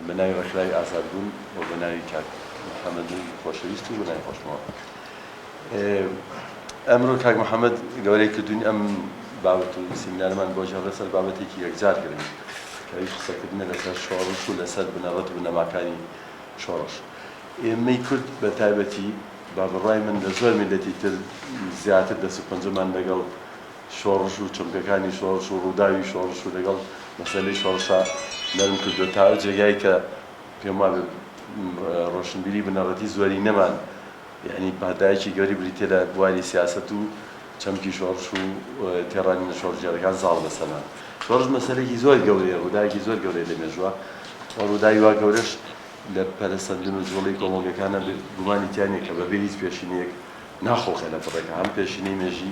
بە ناوی ڕێکخراوی ئازادبوون و بە ناوی کاک محەممەد خۆشەویست و بە ناوی خۆشمەوە ئەمرۆ کاک محەممەد گەورەی کردوین ئەم باوەت و سیمینارمان بۆ جێڕە سەر بابەتێکی یەکجار گرنگ کەوی قسەکردنە لەسەر شۆڕش و لەسەر بنەڕەت بنەماکانی شۆڕش ئێمەی کورد بە تایبەتی بە بڕوای من لە زۆر میللەتی تر زیاتر دەست و پەنجەمان لەگەڵ شۆڕش و چەمکەکانی شۆڕش و ڕووداوی شۆڕش و لەگەڵ مەسەلەی شۆڕشا نەرم کردووە تا ئەو جێگای کە پێم وابێ ڕۆشنبیری بنەڕەتی زۆرینەمان یەعنی پانتایەکی گەوری بریتیە لە بواری سیاسەت و چەمکی شۆڕش و تێڕوانینە شۆڕشگێڕەکان زاڵ بە سەما. شۆڕش مەسەلەیەکی زۆر گەورەیە، ڕووداوێکی زۆر گەورەیە لە مێژووە و ڕووداوی وا گەورەش لە پەرەسەندن و جووڵەی کۆمەڵگەکانا گومانی تیا نیە کە بەبێ هیچ پێشینەیەک ناخوڵقێنە بڕێکە هەم پێشینەی مێژی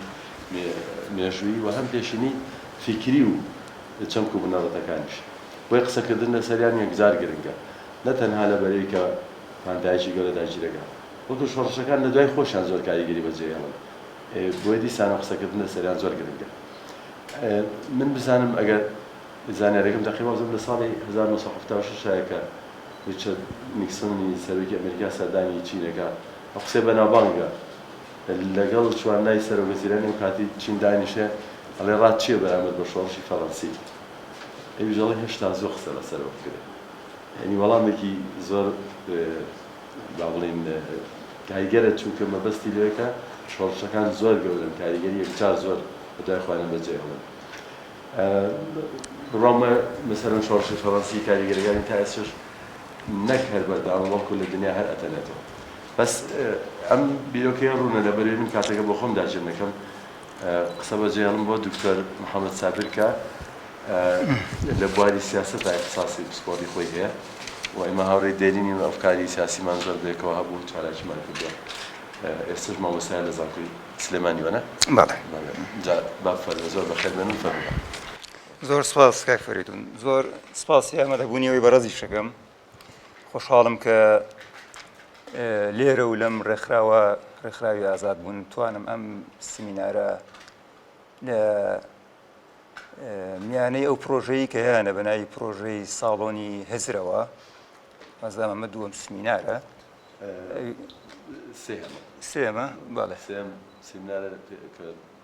مێژوویی و هەم پێشینەی فیکری و چەمک و بنەڕەتەکانیش. بۆیە قسەکردن لەسەریان یەکجار گرنگە نە تەنها لە بەرەی کە، پان دایکی گەورە دایکی دەگا وەکو شۆڕشەکان لە دوای خۆشیان زۆر کاریگەری بە جێ هێڵن بۆیە دیسان قسە کردن لە سەریان زۆر گرنگە من بزانم ئەگەر زانیارەکەم دەقی وازم لە ساڵی 1976 شایە کە ریچارد نیکسۆنی سەرۆکی ئەمریکا سەردانی چین دەکا ئەو قسەی بەناوبانگە لەگەڵ چوارنای سەرۆک وەزیرانی ئەو کاتی چین دانیشێ ئەڵێ ڕات چییە بەرامبەر بە شۆڕشی فەرەنسی ئەویش ئەڵێ هێشتا زووە قسە لەسەرەوە بکرێ یانی وەڵامێکی زۆر با بڵێین کاریگەرە چونکە مەبەستی لەوەیە کە شۆڕشەکان زۆر گەورەن کاریگەری یەکجار زۆر بەدوای خۆیانە بەجێهێڵن بڕوامە مەسەرەن شۆڕشی فەڕەنسی کاریگەریەکانی تا ئێستش نەک هەر بەردەوامە بەڵکو لە دنیا هەر ئەتەنێتەوە بەس ئەم بیرۆکەیە ڕوونە لەبەرێ من کاتەکە بۆ خۆم داچێن نەکەم قسە بەجێهێڵم بۆ دکتۆر محەممەد سابر کە لە بواری سیاسەتا ئیختساسی پسپۆڕی خۆی هەیە و ئێمە هاوڕێی دێرینین و ئەفکاری سیاسیمان زۆر بەیەکەوە هەبوو و چالاکیمان کردووە. ئێستەش مامۆستایە لە زانکۆی سلێمانی، وانە؟ بەڵێ. جا با بفەرموێ، زۆر بەخێر بێنن، فەرمووبە. زۆر سپاس کاک فەرەیدوون. زۆر سپاس هی ئامادەبوونیەوەی بەڕێزیشت دەکەم. خۆشحاڵم کە لێرە و لەم ڕێکخراوە، ڕێکخراوی ئازادبوون، توانم ئەم سمینارە لە میانەی ئەو پرۆژەیە کە هەیانە بە ناوی پرۆژەی ساڵۆنی هزرەوە مەزدام ئەمە دووەم سمینارە سێمە بەڵێ سێم سمینارە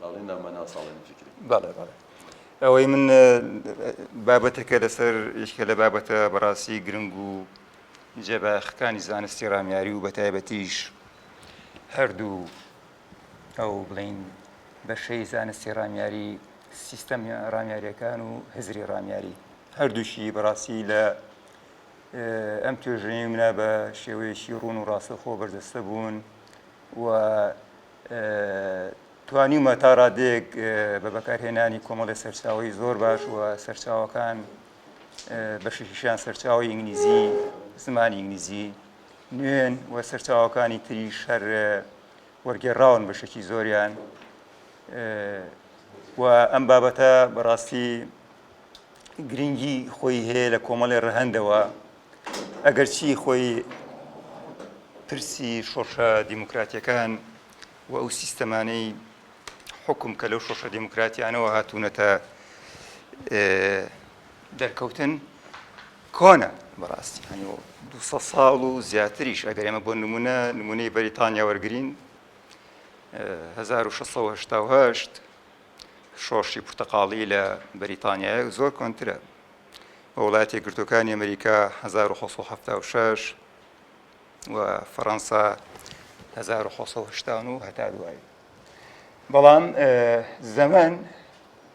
باڵی نامەنا ساڵێنی فکری بەڵێ بەڵێ ئەوەی من بابەتەکە لەسەر یشکە لە بابەتە بەڕاستی گرنگ و جێباخەکانی زانستی ڕامیاری و بەتایبەتیش هەردوو ئەو بڵێین بەشەی زانستی ڕامیاری سیستەم ڕامیارەکان و هزری ڕامیاری هەردووشی بەڕاستی لە ئەم توێژەی منە بە شێوەیەکی ڕوون و ڕاستەخۆ بەردەستە بوون و توانیمە تا ڕادێک بە بەکارهێنانی کۆمەڵی سەرچاوی زۆر باش و سەرچاوەکان بەشیشیان سەرچاوی ئینگلیزی زمانی ئینگلیزی نوێن و سەرچاوەکانی تری شەر وەرگێڕراون بەشێکی زۆریان و ئەم بابەتە بەڕاستی گرنگی خۆی هەیە لە کۆمەڵێ ڕەهندەوە ئەگەرچی خۆی پرسی شۆڕشە دیموکراتیەکان و ئەو سیستەمانەی حکم کە لەو شۆشە دیموکراتیانەوە هاتوونەتە دەرکەوتن کۆنە بەڕاستی هەنی و دوو سەد ساڵ و زیاتریش ئەگەر ئێمە بۆ نمونە نمونەی بەریتانیا وەرگین هەزار و شەسەد و هەشتا و هەشت شۆڕشی پرتەقاڵی لە بەریتانیایە زۆر کۆنترە بە وڵاتی گرتوەکانی ئەمریکا 1970 و فەڕەنسا 1970 هەتا دوایی بەڵام زەمن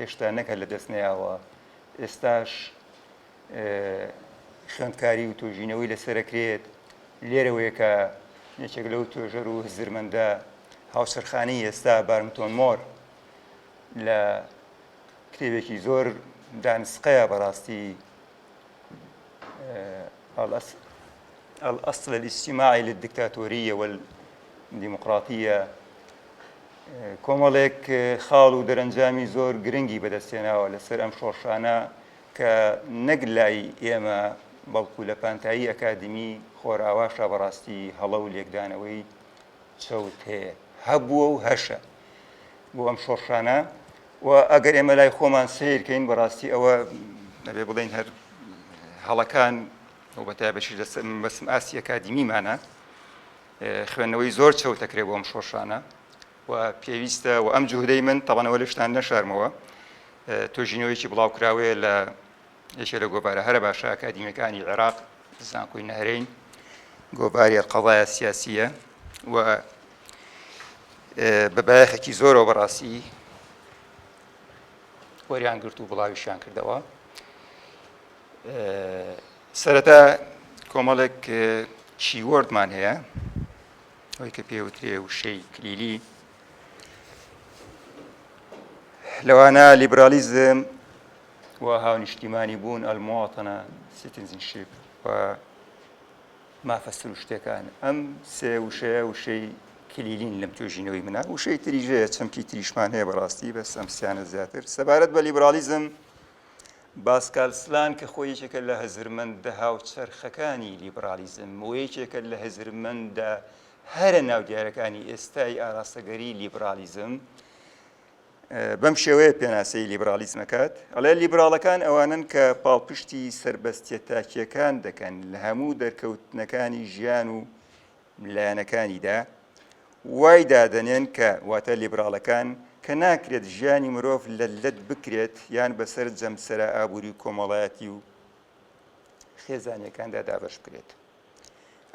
هێشتا نەک هەر لە دەست نەیاوە ئێستاش خوێندکاری و توێژینەوەی لەسەرەکرێت لێرەوەیە کە یەکێک لەو توێژەر و هزرمەندە هاوسەرخانی ئێستا بارمتۆن مۆر لە کتێبێکی زۆر دانسقەیە بەڕاستی الأصل الاجتماعی للدکتاتۆریە والدیموقراطیە کۆمەڵێک خاڵ و دەرەنجامی زۆر گرنگی بەدەستێناوە لەسەر ئەم شۆڕشانە کە نەک لای ئێمە بەڵکو لە پانتایی ئەکادمی خۆرئاواشا بەڕاستی هەڵە و لێکدانەوەی چەوت هەیە، هەبووە و هەشە بۆ ئەم شۆڕشانە و ئەگەر ئێمە لای خۆمان سەیر کەین بەڕاستی ئەوە دەبێ بڵێن هەر هەڵەکان و بە تایبەتیش بەسم ئاستی ئەکادیمیمانە خوێندنەوەی زۆر چەوتەکرێ بۆ ئەم شۆڕشانە و پێویستە و ئەم جوهدەی من تەڵەنەوە لە شتان نەشارمەوە تۆژینەوەیکی بڵاوکراوەیە لە یەکێ لە گۆڤارە هەرە باشە ئەکادیمیەکانی عێراق زانکۆی نەهرین گۆڤاریە قەڵایە سیاسیە و بە بایەخێکی زۆرەوە بەڕاستی وەریان گرت و بڵاویشیان کردەوە سەرەتا کۆمەڵێک چیوەردمان هەیە ئەوی کە پێوترێ وشەی کلیلی لەوانە لیبرالیزم و هاونیشتیمانی بوون، المواطنە، Citizenship، و مافە سروشتیەکان. ئەم سێ وشەیە وشەی کلیلین لەم توێژینەوەی منە وشەی تریژ هەیە چەمکی تریشمان هەیە بەڕاستی بەس ئەم سیانە زیاتر سەبارەت بە لیبرالیزم باسکال سلان کە خۆی یەکێکە لە هەزرمەندە هاوچەرخەکانی لیبرالیزم و یەکێکە لە هەزرمەندە هەرە ناودیارەکانی ئێستای ئاراستەگەری لیبرالیزم بەم شێوەیە پێناسەی لیبرالیزم ئەکات ئەڵێ لیبراڵەکان ئەوانن کە پاڵپشتی سربەستە تاکیەکان دەکەن لە هەموو دەرکەوتنەکانی ژیان و لایەنەکانیدا وای دادەنێن کە واتە لیبراڵەکان کە ناکرێت ژیانی مرۆڤ لە لەت بکرێت یان بەسەر جەمسرە ئابووری و کۆمەڵایەتی و خێزانەکاندا دابش بکرێت.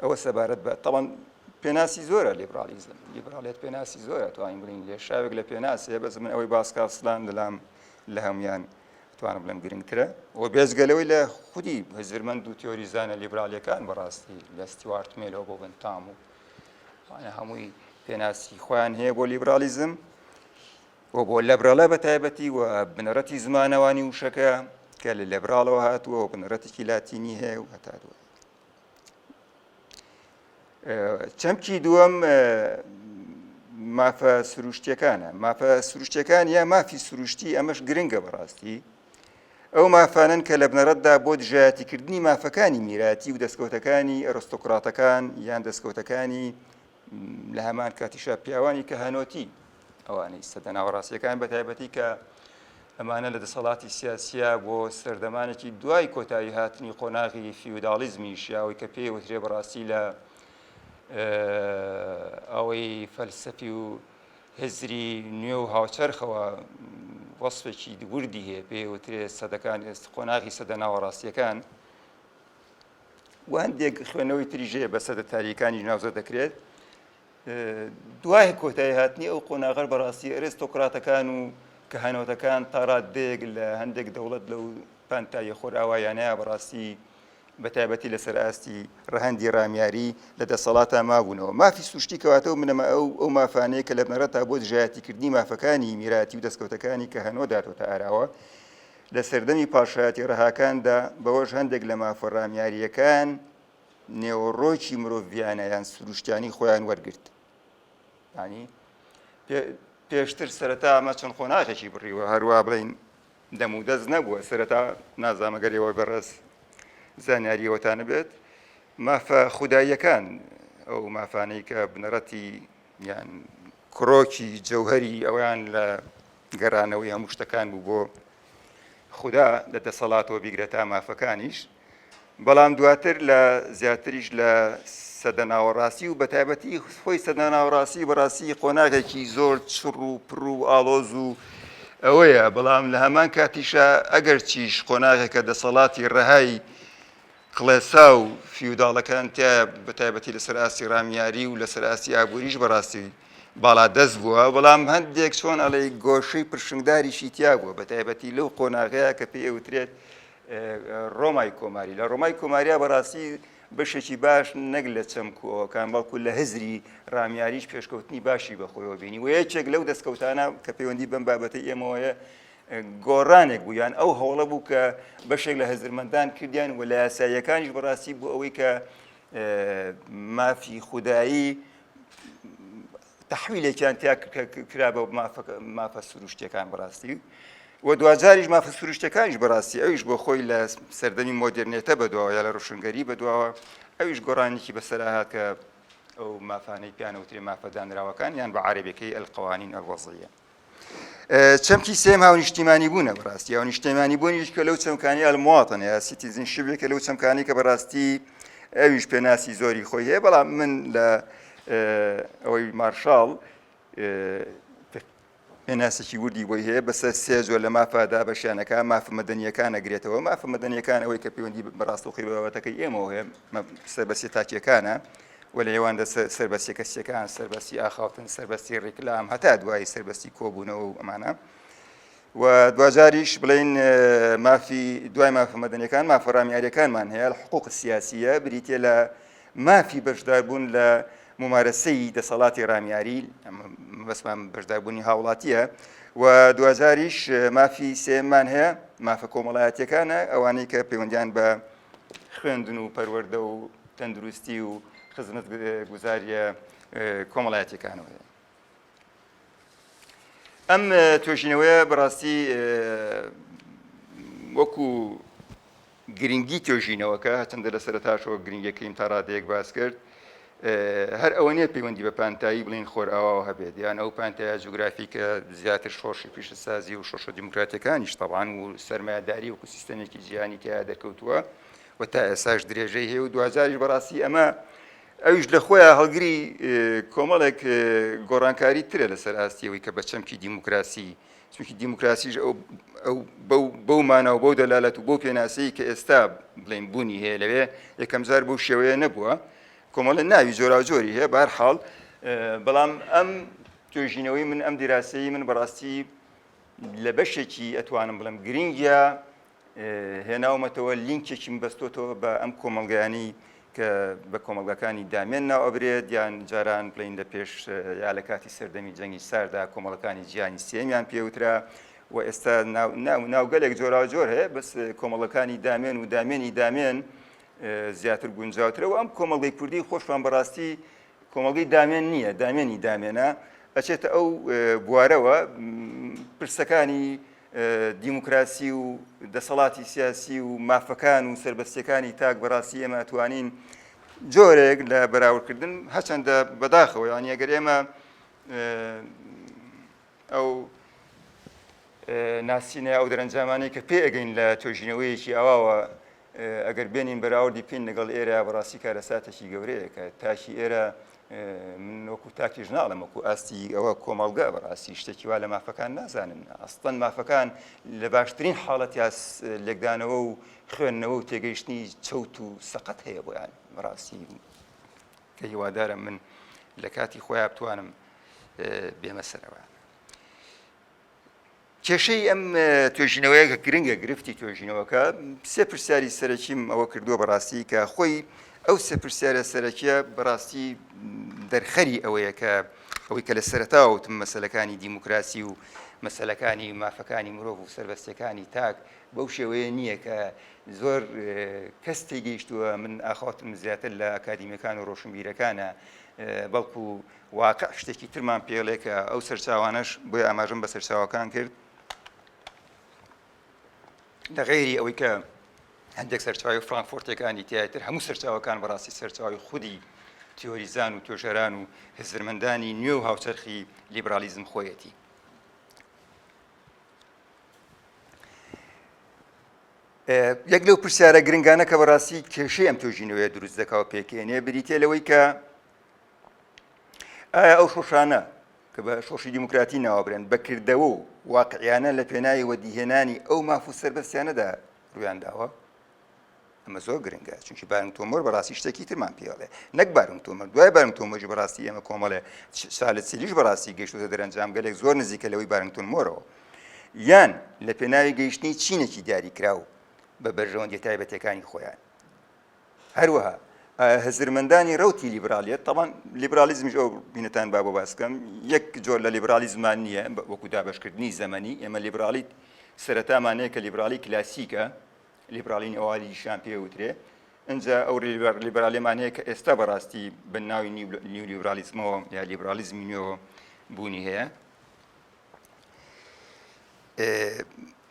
ئەوە سەبارەت بە تەڵەن پێناسی زۆرە لیبرالیزم لیبرالیت پێناسی زۆرە توانین بڵین لێ شاوێک لە پێناسێ بەس من ئەوەی باسکاسلان لەلام لە هەموان توانم بڵم گرنگترە و بێزگەلەوەی لە خودی هزرمەند و تیۆریزانە لیبرالیەکان بەڕاستی لە ستیوارت مێلەوە بۆ بنتام و هەمووی پێناسی خۆیان هەیە بۆ لیبرالیزم و بۆ لەبرەڵە بە تایبەتی و بنەڕەتی زمانەوانی وشەکە کە لە لەبراڵەوە هاتووە و بنەڕەتێکی لاتینی هەیە و هەتا دوای چەمکی دووەم مافە سروشتەکانە مافە سروشتەکان یا مافی سروشتی ئەمەش گرنگە بەڕاستی ئەو مافانن کە لە بنەڕەتدا بۆ دژایەتیکردنی مافەکانی میراتی و دەستکەوتەکانی ئەرستۆکراتەکان یان دەستکەوتەکانی لە هەمان کاتیشا پیاوانی کە هەنۆتی ئەوانەی سەدە ناوەڕاستیەکان بە تایبەتی کە ئەمانە لە دەسەڵاتی سیاسە بۆ سەردەمانێکی دوای کۆتایی هاتنی قۆناغی فیوداڵیزمی شیاوی کە پێی وترێ بەڕاستی لە ئەوەی فەلسەفی و هزری نوێ و هاوچەرخەوە وەصفێکی دووردی هەیە پێ وترێ سەدەکان ئێست قۆناغی سەدە ناوەڕاستیەکان و هەندێک خوێنەوەی تریژ هەیە بە سەدە تاریەکانی ناوزە دەکرێت دوای کۆتایی هاتنی ئەو قۆناغەر بەڕاستی ئەرێستۆکراتەکان و کە هەنۆتەکان تاڕات دێک لە هەندێک دەوڵەت لەو پانتایە خۆراوایانەیە بەڕاستی بە تایبەتی لەسەر ئاستی ڕەهندی ڕامیاری لە دەسەڵاتە مابوونەوە مافی سروشتی کەواتە و منەمە ئەو ئەو مافانەیە کە لە بنەڕەتا بۆ دژایەتیکردنی مافەکانی میراتی و دەستکەوتەکانی کە هەنۆ داتۆتە ئاراوە لە سەردەمی پاشایەتی ڕەهاکاندا بەوەش هەندێک لە مافە ڕامیارییەکان نێوەڕۆکی مرۆڤیانە یان سروشتیانی خۆیان وەرگرت ینی پێشتر سەرەتا ئەمە چەند قۆناغێکی بڕیوە هەروە بڵین دەم و دەست نەبووە سەرەتا نازامەگەریەوە بەڕێز زانیاریەوەتانە بێت مافە خوداییەکان ئەو مافانەی کە بنەڕەتی یان کرۆکی جەوهەری ئەویان لە گەرانەوەی هەموو شتەکان بوو بۆ خودا لە دەسەڵاتەوە بیگرە تا مافەکانیش بەڵام دواتر لە زیاتریش لە سەدە ناوەڕاستی و بە تایبەتی خۆی سەدە ناوڕاستی بەڕاستی قۆناغێکی زۆر چڕ و پڕ و ئاڵۆز و ئەوەیە بەڵام لە هەمان کاتیشە ئەگەر چیش قۆناغێکە دەسەڵاتی ڕەهای کڵێسا و فیوداڵەکان تیایە بە تایبەتی لەسەر ئاستی ڕامیاری و لەسەر ئاستی ئابووریش بەڕاستی باڵادەست بووە بەڵام هەندێک چۆن ئەڵێ گۆشەی پرشنگداریشی تیا بووە بە تایبەتی لەو قۆناغەیە کە پێی ئەوترێت ڕۆمای کۆماری لە ڕۆمای کۆماریا بەڕاستی بەشێکی باش نەک لە چەمکوەکان بەڵکو لە هزری ڕامیاریش پێشکەوتنی باشی بەخۆیەوە بینی و یەکێک لەو دەستکەوتانە کە پەیوەندی بەم بابەتی ئێمەوەیە گۆڕانێک بوو یان ئەو هەوڵە بوو کە بەشێک لە هزرمەندان کردیان و لە یاساییەکانیش بەڕاستی بۆ ئەوەی کە مافی خودایی تحویلێکیان تیا کرا بە مافە سروشتەکان بەڕاستی و دواجاریش مافە سروشتەکانیش بەڕاستی ئەویش بۆ خۆی لە سەردەمی مۆدررنێتە بەدواوە یا لە ڕوشنگەری بەدواوە ئەویش گۆڕانێکی بەسەراهات کە ئەو مافانەی پیانەوترێ مافەدانراوەکان یان بە عربەکەی ئەلقوانین ئەلوەزیە چەمکی سێم هاونیشتیمانی بوونە بەڕاستی هاونیشتیمانی بوونیش کە لەو چەمکانی ئەلمواتن یا سیتیزین شبێکە لەو چەمکانی کە بەڕاستی ئەویش پێناسی زۆری خۆی هەیە بەڵام من لە ئەوەی مارشال پێناسێکی وردی بۆی هەیە بەسەر سێ زۆر لە مافە دابەشیانەکە مافە مەدەنیەکان نەگرێتەوە مافە مەدەنیەکان ئەوەی کە پەیوەندی بەڕاستەخی بابەتەکەی ئێمەوە هەیە سەر بەسێ تاکیەکانە و لە ئێواندا سەربەستیە کەسیەکان، سەربەستی ئاخاوتن، سەربەستی ڕیکلام، هەتا دوایی سەربەستی کۆبوونەوە و ئەمانە. و دواجاریش بڵین مافی دوای مافە مەدەنەکان مافەڕامیاریەکانمان هەیە حقوق سیاسیە بریتە لە مافی بەشداربوون لە ممارەسەی دەسەڵاتی ڕامیاری بەسمان بەشداربوونی هاوڵاتیە و دوجاریش مافی سێمان هەیە مافە کۆمەڵایەتەکانە ئەوانەی کە پەیوەندیان بە خوێندن و پەروەردە و تەندروستی و خزمەت گوزاریە کۆمەڵایەتەکانەوە ئەم توێژینەوەیە بەڕاستی وەکو گرنگی توێژینەوەکە هەچەندە لە سەرتاشەوە گرنگەکەیم تا ڕادەیەک باس کرد هەر ئەوە نیە پەیوەندی بە پانتایی بڵین خۆرئاواوە هەبێت یان ئەو پانتایە جوگرافیکە زیاتر شۆڕشی پیشەسازی و شۆشە دیموکراتەکانیش تەوان و سەرمایهداری وکو سیستەمێکی جیهانی تیا دەکەوتووە و تا ئێساش درێژەی هەیە و دوجاریش بەڕاستی ئەمە ئەویش لە خۆیان هەڵگری کۆمەڵێک گۆڕانکاری ترە لەسەر ئاستیەوەی کە بە چەمکی دیموکراسی چونکی دیموکراسیش ئەو ئەو بەو بەو مانا و بەو دەلالەت و بۆ پێناسەی کە ئێستا بڵێن بوونی هەیە لەوێ یەکەمجار بەو شێوەیە نەبووە کۆمەڵە ناوی جۆراوجۆری هەیە بار حاڵ بەڵام ئەم توێژینەوەی من ئەم دیراسەی من بەڕاستی لە بەشێکی ئەتوانم بڵم گرنگە هێناومەتەوە لینکێکیم بەستۆتەوە بە ئەم کۆمەڵگەیانی کە بە کۆمەڵگەکانی دامێن ناو ئەبرێت یان جاران بڵین لە پێش یا لە کاتی سەردەمی جەنگی ساردا کۆمەڵەکانی جیانی سێمیان پێوترا و ئێستا ناوگەلێک جۆرا جۆر هەیە بەس کۆمەڵەکانی دامێن و دامێنی دامێن زیاتر گونجاوترە و ئەم کۆمەڵگەی کوردی خۆشمان بەڕاستی کۆمەڵگەی دامێن نییە دامێنی دامێنە ئەچێتە ئەو بوارەوە پرسەکانی دیموکراسی و دەسەڵاتی سیاسی و مافەکان و سربەستەکانی تاک بەڕاستی ئێمە ئەتوانین جۆرێک لە بەراوردکردن هەچەندە بەداخەوە یان ئەگەر ئێمە ئەو ناسینە ئەو دەرەنجامانی کە پێ ئەگەین لە توێژینەوەیەکی ئاواوە ئەگەر بێنین بەراوردی پین لەگەڵ ئێرە بەڕاستی کارەساتێکی گەورەیەکە تاکی ئێرە من وەکو تاکیش ناڵم وەکو ئاستی ئەوە کۆمەڵگە بەڕاستی شتێکی وا لە مافەکان نازانن ئەستەن مافەکان لە باشترین حاڵەت یا لێکدانەوە و خوێندنەوە و تێگەیشتنی چەوت و سەقەت هەیە بۆیان بەڕاستی کە هیوادارم من لە کاتی خۆیان بتوانم بێمەسەرەوە کێشەی ئەم توێژینەوەیە کە گرنگە گرفتی توێژینەوەکە سێ پرسیاری سەرەکیم ئەوە کردووە بەڕاستی کە خۆی ئەو سێ پرسیارە سەرەکیە بەڕاستی دەرخەری ئەوەیە کە ئەوەی کە لە سەرتاوتم مەسلەکانی دیموکراسی و مەسلەکانی مافەکانی مرۆڤ و سربەستەکانی تاک بەو شێوەیە نییە کە زۆر کەس تێگەیشتووە من ئاخاتم زیاتر لە ئەکادیمیەکان و ڕۆشنبیرەکانە بەڵکو واقع شتێکی ترمان پێڵێ کە ئەو سەرچاوانەش بۆی ئاماژم بە سەرچاوەکان کرد لە غێری ئەوەی کە هەندێک سەرچاوی فرانکفۆرتەکانی تیاتر هەموو سەرچاوەکان بەڕاستی سەرچاوی خودی تیۆریزان و توێژەران و هزرمەندانی نوێ و هاوچەرخی لیبرالیزم خۆیەتی یەک لەو پرسیارە گرنگانە کە بەڕاستی کێشەی ئەم توێژینەوەیە دروست دەکا و پێکێنێ بریتە لەوەی کە ئایا ئەو شۆشانە کە بە شۆشی دیموکراتی ناوەبرێن بە کردەوە و واقعیانە لە پێناوی وەدیهێنانی ئەو ماف و سەربەستیانەدا ڕویان داوە؟ ئەمە زۆر گرنگە چونکی بارنگ تۆمۆر بەڕاستی شتێکی ترمان پێڵێ نەک بارنگ تۆمەر دوای بارنگ تۆمەژی بەڕاستی ئێمە کۆمەڵێ سالت سیلیش بەڕاستی گەشتوتە دەرەنجام گەلێک زۆر نزیکە لەوەی بارنگتون مۆرەوە یان لە پێناوی گەیشتنی چینێکی دیاریکراو بە بەرژەوەندی تایبەتەکانی خۆیان هەروەها هزرمەندانی رەوتی لیبرالیەت، تەبان لیبرالیزمیش ئەو بینەتان با بۆ باس بکەم، یەک جۆر لە لیبرالیزمان نییە وەکو دابەشکردنی زەمەنی، ئێمە لیبرالی سەرەتامان هەیە کە لیبرالی کلاسیکە، لیبرالی نەوالیشیان پێ وترێ، ئینجا ئەو لیبرالیمان هەیە کە ئێستا بەڕاستی بە ناوی نیولیبرالیزمەوە یا لیبرالیزمی نوێوە بوونی هەیە.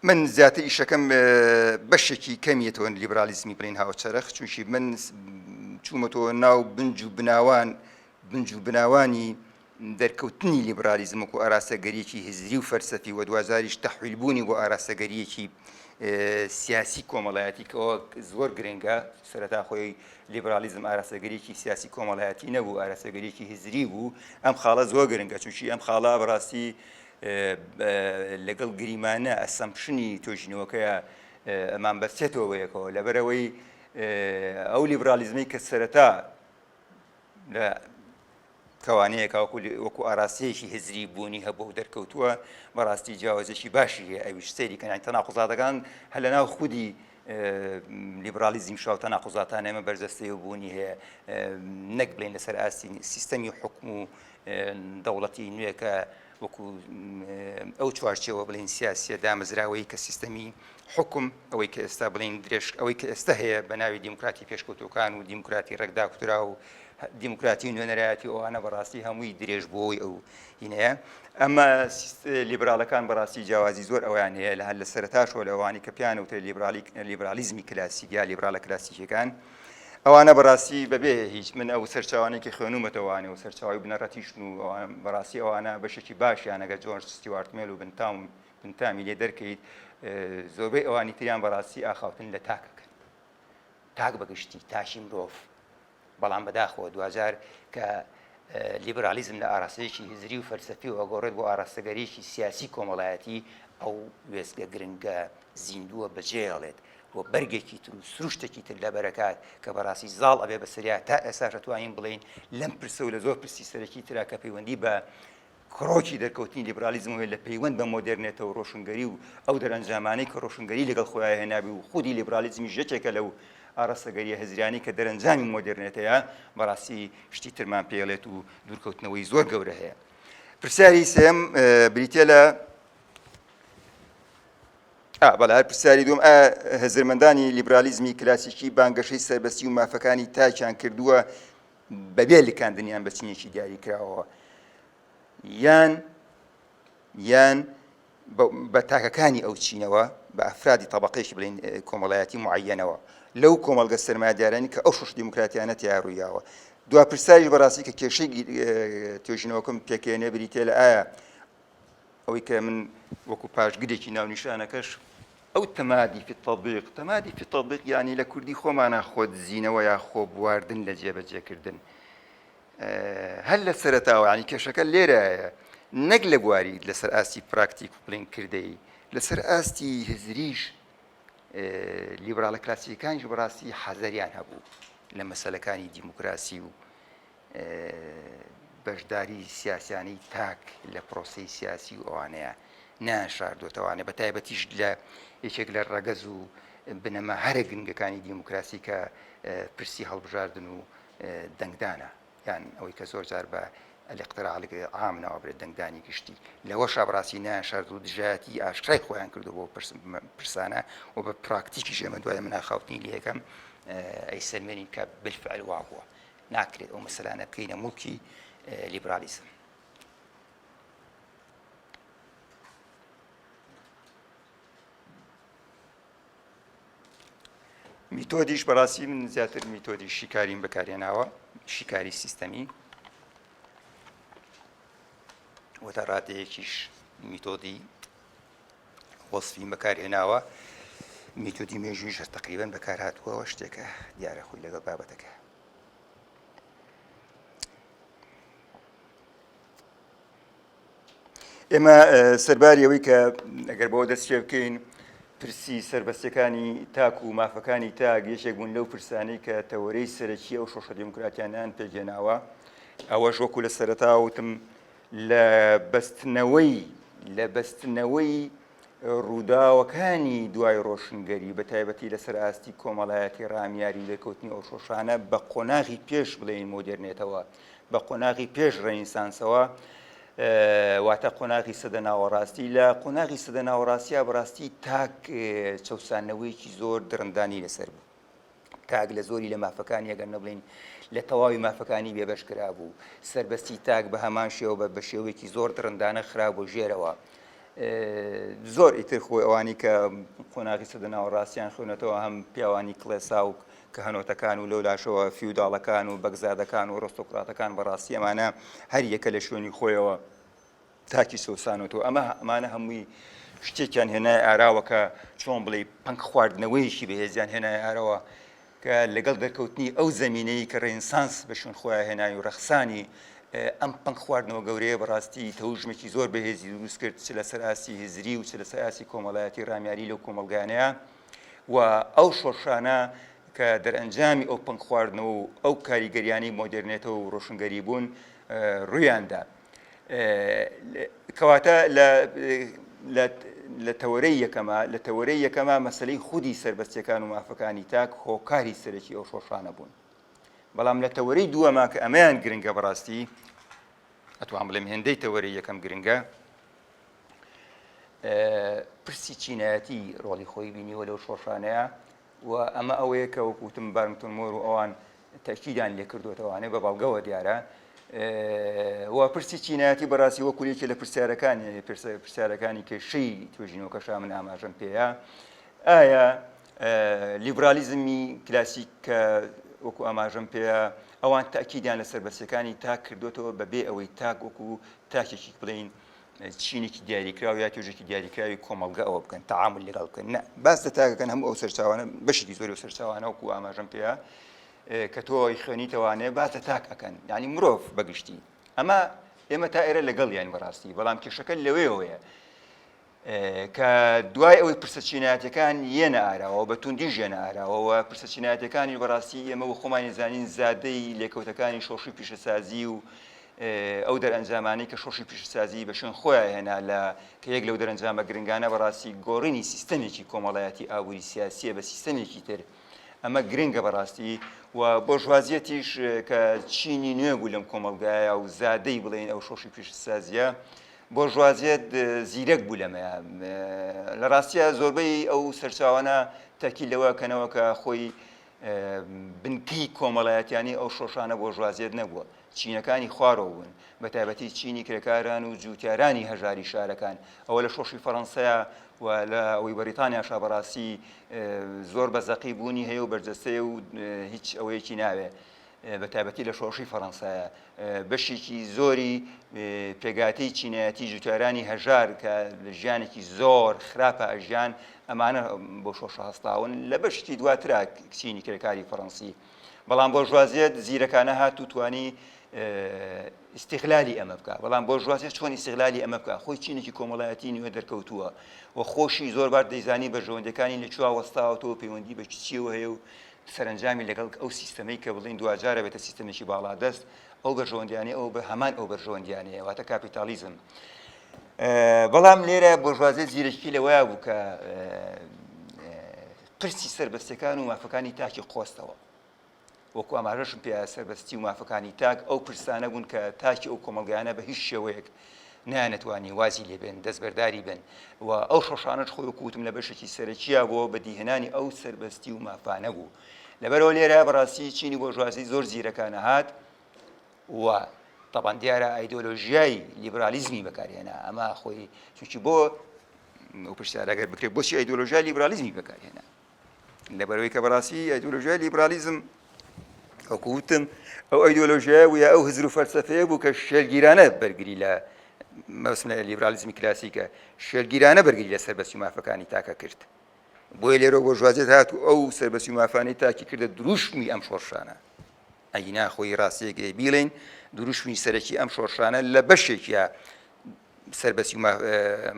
من زیاتر ئیشەکەم بەشێکی کەمیەتەوە لیبرالیزمی بڵین هاوچەرخ چونکی من چوومەتەوە ناو بنج و بناوان بنج و بناوانی دەرکەوتنی لیبرالیزمک و ئاراستەگەریەکی هزری و فەرسەفی و دوازاریش تەحویلبوونی بۆ ئاراستەگەریەکی سیاسی کۆمەڵایەتی کەەوە زۆر گرنگە سەرەتا خۆی لیبرالیزم ئاراستەگەریەکی سیاسی کۆمەڵایەتی نەبوو ئاراستەگەریەکی هزری بوو ئەم خاڵە زۆر گرنگە چونکی ئەم خاڵە بەڕاستی لەگەڵ گریمانە ئەسەمپشنی توێژینەوەکەیا مان بەستێتەوە بە یەکەوە، لەبەرئەوەی ئەو لیبراڵیزمەی کە سەرەتا لە کەوانەیەکا وەکو وەکو ئاراستەیەکی هزری بوونی هەبوو و دەرکەوتووە بەڕاستی جیاوازێکی باشی هەیە ئەویش سەیری کەنای تەناقضاتەکان هەر لەناو خودی لیبرالیزم شاو تەناقوزاتان ئێمە بەرجەستەی و بوونی هەیە نەک بڵێن لەسەر ئاستی سیستەمی و حکم و دەوڵەتی نوێکە وەکو ئەو چوارچەوە بڵین سیاسە دامەزراوەی کە سیستەمی حکم ئەوەی کە ئێستا بڵین درێژ ئەوەی کە ئێستا هەیە بە ناوی دیموکراتی پێشکەوتەکان و دیموکراتی ڕێکداکوترا و دیموکراتی نوێنەرایەتی ئەوانە بەڕاستی هەمووی درێژبووەوەی ئەو هینەیە ئەمە لیبراڵەکان بەڕاستی جیاوازی زۆر ئەویان هەیە لە هەر لە سەرتاشەوە لەوانی کە پیان وتە لیبرالی لیبرالیزمی کلاسیک یا لیبراڵە کلاسیکەکان ئەوانە بەڕاستی بەبێ هیچ من ئەو سەرچوانێکی خوێنومەتەوانێ و سەرچاوی بنەڕەتیشن و بەڕاستی ئەوانە بەشێکی باشیانەگە جۆرج ستیوارتمێل و بنتاوم بنتامی لێ دەرکەیت زۆربەی ئەوانی تریان بەڕاستی ئاخاوتن لە تاکەکەن تاک بەگشتی تاشی مرۆڤ بەڵام بەداخەوە دواجار کە لیبرالیزم لە ئاراستەیەکی هزری و فەلسەفی و ئەگۆڕێت بۆ ئاراستەگەریی سیاسی کۆمەڵایەتی ئەو وێستگە گرنگە زیندووە بەجێیەڵێت و بەرگێکی تر و سروشتێکی تر لەبەرەکات کە بەڕاستی زاڵ ئەبێ بەسەریا تا ئێساش ئەتوانین بڵێین لەم پرسە و لە زۆر پرسی سەرەکی ترا کە پەیوەندی بە کڕۆکی دەرکەوتنی لیبرالیزم ئەوەیە لە پەیوەند بە مۆدێرنێتە و ڕۆشنگەری و ئەو دەرەنجامانەی کە ڕۆشنگەری لەگەڵ خۆیان هێنابوو و خودی لیبرالیزمیش یەکێکە لەو ئاراستەگەرییە هزریانەی کە دەرەنجامی مۆدێرنێتەیە، بەڕاستی شتی ترمان پێڵێت و دوورکەوتنەوەی زۆر گەورە هەیە. پرسیاری سێم بریتە لە بەڵ هەر پرسیاری دوم ئا هزرمەندانی لیبرالیزمی کلاسیکی بانگەشەی سەربەستی و مافەکانی تاکیان کردووە بەبێ لکاندنیان بە چینێکی دیاریکراوەوە یان یان بە تاکەکانی ئەو چینەوە بە ئەفرادی تەبقێکی بڵین کۆمەڵایەتی معەنەوە لەو کۆمەلگە سرمادارانی کە ئەو شش دیموکراتیانە تیاڕوویاوە دو پرسیاری بەڕاستی کە کێشەی توێژینەوەکەم پێکێنێ بریتێ لە ئایا ئەوەی کە من وەکو پاشگرێکی ناونیشانەکەش ئەو تەمادی فی تەبیق تەمادی فی تەبیق یعنی لە کوردی خۆمانە خۆدزینەوە یا خۆ بواردن لە جێبەجێکردن هەر لە سەرتاوە ینی کێشەکە لێرایە نەک لە بواری لەسەر ئاستی پراکتیک و پلین کردەی لەسەر ئاستی هزریش لیبراڵە کلاسیەکانیش بەڕاستی حەزەریان هەبوو لە مەسلەکانی دیموکراسی و بەشداری سیاسیانی تاک لە پرۆسی سیاسی و ئەوانەیە ناشاردۆتەوانێ بە تایبەتیش لە یەکێک لە ڕەگەز و بنەما هەرە گرنگەکانی دیموکراسی کە پرسی هەڵبژاردن و دەنگدانە یان ئەوەی کە زۆر جار بە ئەلقتراالک عام ناوابرێت دەنگدانی گشتی لەوە شابڕاستی نیان شارد و دژایەتی ئاشکرای خۆیان کردو بۆ پرسانە و بە پراکتیکی ژێمە دوای مناخاوتنی لەکەم ئەی سلمێنین کە بلفعل وا بووە ناکرێت ئەو مەسەلانە بکەینە موڵکی لیبرالیزم میتۆدیش بەڕاستی من زیاتر میتۆدی شیکاریم بەکارێناوە شیکاری سیستەمی وەتا ڕادەیەکیش میتۆدی وەسفی بەکارهێناوە، میتۆدی مێژوویش هەر تەقریبەن بەکارهاتووە، ئەوە شتێکە دیارە خۆی لەگەڵ بابەتەکە. ئێمە سەرباری ئەوەی کە ئەگەر بەوە دەست پێ بکەین پرسی سربەستەکانی تاک و مافەکانی تاک یەکێک بوون لەو پرسانەی کە تەوەرەی سەرەکی ئەو شۆشە دیموکراتیانیان پێگەێناوە ئەوەش وەکو لە سەرەتا وتم لە بەستنەوەی لە بەستنەوەی ڕووداوەکانی دوای ڕۆشنگەری بە تایبەتی لەسەر ئاستی کۆمەڵایەتی ڕامیاری لێکەوتنی ئەو شۆشانە بە قۆناغی پێش بڵێین مۆدێرنێتەوە بە قۆناغی پێش ڕێنیسانسەوە واتە قۆناغی سەدە ناوەڕاستی لە قۆناغی سەدە ناوەڕاستیا بەڕاستی تاک چەسانەوەیەکی زۆر درندانی لەسەر بوو تاک لە زۆری لە مافەکانی ئەگەر نەبڵین لە تەواوی مافەکانی بێبەش کرابوو سربەستی تاک بە هەمان شێوە بە بە شێوەیەکی زۆر دڕندانە خرا بۆ ژێرەوە. زۆر ئیتر خۆی ئەوانی کە قۆناغی سەدە ناوەڕاستیان خوێنەتەوە هەم پیاوانی کڵێسا و کە هەنۆتەکان و لەو لاشەوە فیوداڵەکان و بەگزادەکان و ڕۆستۆکراتەکان بەڕاستی ئەمانە هەر یەکە لە شوێنی خۆیەوە تاکی چەوسانەوتەوە، ئەمە ئەمانە هەمووی شتێکیان هێنایە ئاراوە کە چۆن بڵێی پەنگ خواردنەوەیەکی بەهێزیان هێنایە ئارەوە کە لەگەڵ دەرکەوتنی ئەو زەمینەی کە ڕێنسانس بە شوێن خۆیان هێنای و ڕەخسانی ئەم پەنگ خواردنەوە گەورەیە بەڕاستی تەوژمێکی زۆر بەهێزی دروست کرد چ لەسەر ئاستی هزری و چ لەسەر ئاستی کۆمەڵایەتی ڕامیاری لەو کۆمەڵگانەیە و ئەو شۆڕشانە کە دەرئەنجامی ئەو پەنگ خواردنەوە و ئەو کاریگەریانەی مۆدێرنێتەوە و ڕۆشنگەری بوون ڕوویاندا. کەواتە لە تەوەرەی یەکەما لە تەوەرەی یەکەما مەسلەی خودی سربەستەکان و مافەکانی تاک هۆکاری سەرەکی ئەو شۆشانە بوون بەڵام لە تەوەرەی دووەما کە ئەمەیان گرنگە بەڕاستی ئەتوان بڵێم هێندەی تەوەری یەکەم گرنگە پرسی چینایەتی ڕۆڵی خۆی بینیوە لەو شۆشانەیە و ئەمە ئەوەیە کە وەکو وتم بارنگتۆن مۆر و ئەوان تەئکیدیان لێ کردۆتەوە ئەنێ بە بەڵگەوە دیارە و پرسی چینایەتی بەڕاستی وەکو یەکێ لە پرسیارەکانی پرسیارەکانی کێشەی توێژینەوەکەشا من ئاماژەم پێەیە ئایا لیبرالیزمی کلاسیک کە وەکو ئاماژەم پێەیە ئەوان تاکیدیان لە سربەسیەکانی تاک کردوێتەوە بەبێ ئەوەی تاک وەکو تاکێکی بڵین چینێکی دیاریکراو یا توێژێکی دیاریکراوی کۆمەڵگە ئەوە بکەن تەعامل لەگەڵ بکەن نە باس لە تاکەکەن هەموو ئەو سەرچاوانە بەشێکی زۆری و سەرچاوانە وەکو ئاماژەم پێەیە کە تۆی خوێنیتەوانێ باس لە تاک ئەەکەن ینی مرۆڤ بەگشتی ئەمە ئێمە تا ئێرە لەگەڵ یان بەڕاستی بەڵام کێشەکە لەوەیەوەیە کە دوای ئەوەی پرسە چینایەتەکان یەنە ئاراوە بە توندی ژێنە ئاراوەوە پرسە چینایەتەکانی بەڕاستی ئێمە و خۆمانی زانین زادەی لێکەوتەکانی شۆشی پیشەسازی و ئەو دەرئەنجامانەی کە شۆڕشی پیشەسازیی بە شوێن خۆیان هێنا لە کە یەک لەو دەرەنجامە گرنگانە بەڕاستی گۆڕینی سیستەمێکی کۆمەڵایەتی ئابووری سیاسییە بە سیستەمێکی تر ئەمە گرنگە بەڕاستی و بۆرژوازیەتیش کە چینی نوێ بوو لەم کۆمەلگایە و زادەی بڵێن ئەو شۆشی پیشسازیە بۆرژوازیەت زیرەک بوو لەمەیە لە ڕاستیە زۆربەی ئەو سەرچاوانە تاکی لەوە کەنەوە کە خۆی بنکەی کۆمەڵایەتیانی ئەو شۆشانە بۆرژوازیەت نەبووە چینەکانی خوارەوە بوون، بەتایبەتی چینی کرێکاران و جووتیارانی هەژاری شارەکان، ئەوە لە شۆڕشی فەرەنسەیە و لە ئەوەی بەریتانیاشە بەڕاستی زۆر بە زەقی بوونی هەیە و بەرجەستەیە و هیچ ئەوەیەکی ناوێ. بەتابەتی لە شۆڕشی فەڕەنسایە بەشێکی زۆری پێگاتی چینایەتی جوتارانی هەژار کە لە ژیانێکی زۆر خراپە ئەژیان ئەمانە بۆ شۆشە هەستاون لە بەشتی دواترا کچینی کرێکاری فەڕەنسی بەڵام بۆرژوازیەت زیرەکانە هات و توانی ئیسیغلالی ئەمە بکە بەڵام بۆ ژوازێت چۆن ئیسیغلالی ئەمە بکە خۆی چینێکی کۆمەڵایەتی نوێ دەرکەوتووە و خۆشی زۆر بار دەیزانی بەرژەوەندەکانی لە چوا وەستاوەتەوە پەیوەندی بە چیەوە هەیە و سەرنجامی لەگەڵ ئەو سیستەمەی کە بڵین دواجارە بێتە سیستەمێکی باڵا دەست ئەو بەرژەوەندیانە ئەو بە هەمان ئەو بەرژەوەندیانەیە واتە کاپیتالیزم بەڵام لێرە بۆژوازێت زیرەکی لەوەیە بوو کە پرسی سەربەستیەکان و مافەکانی تاکی قۆستەوە. وەکو ئاماژەشم پێ سەربەستی و مافەکانی تاک ئەو پرسانە بوون کە تاکی ئەو کۆمەڵگایانە بە هیچ شێوەیەک نانەتوانی وازی لێبێن دەستبەرداری بن و ئەو شۆشانەش خۆی کووتم لە بەشێکی سەرەکییا بۆ بەدیهێنانی ئەو سەربەستی و مافانە بوو لەبەرەوە لێرە بەڕاستی چینی بۆژوازی زۆر زیرەکانە هات و طبعا دیارە ئایدۆلۆژیای لیبرالیزمی بەکارهێنا ئەمە خۆی چونکی بۆ ئەو پرسیارە گەر بکرێت بۆچی ئایدۆلۆژیای لیبرالیزمی بەکارهێنا لەبەرەوەی کە بەڕاستی ئایدۆلۆژیای لیبرالیزم وەکوتم ئەو ئایدۆلۆژیای وە ئەو هزر و فەلسفەیە بوو کە شێرگیرانە بەرگری لە مەسمە لیبرالیزمی کلاسیکە شێرگیرانە بەرگری لە سەربەسی و مافەکانی تاکە کرد بۆی لێرە بۆ ژوازێت هات و ئەو سەربەسی و مافانەی تاکی کردە دروشمی ئەم شۆڕشانە ئەینا خۆی ڕاستێک بیڵین دروشمی سەرەکی ئەم شۆڕشانە لە بەشێکە سەربەستی و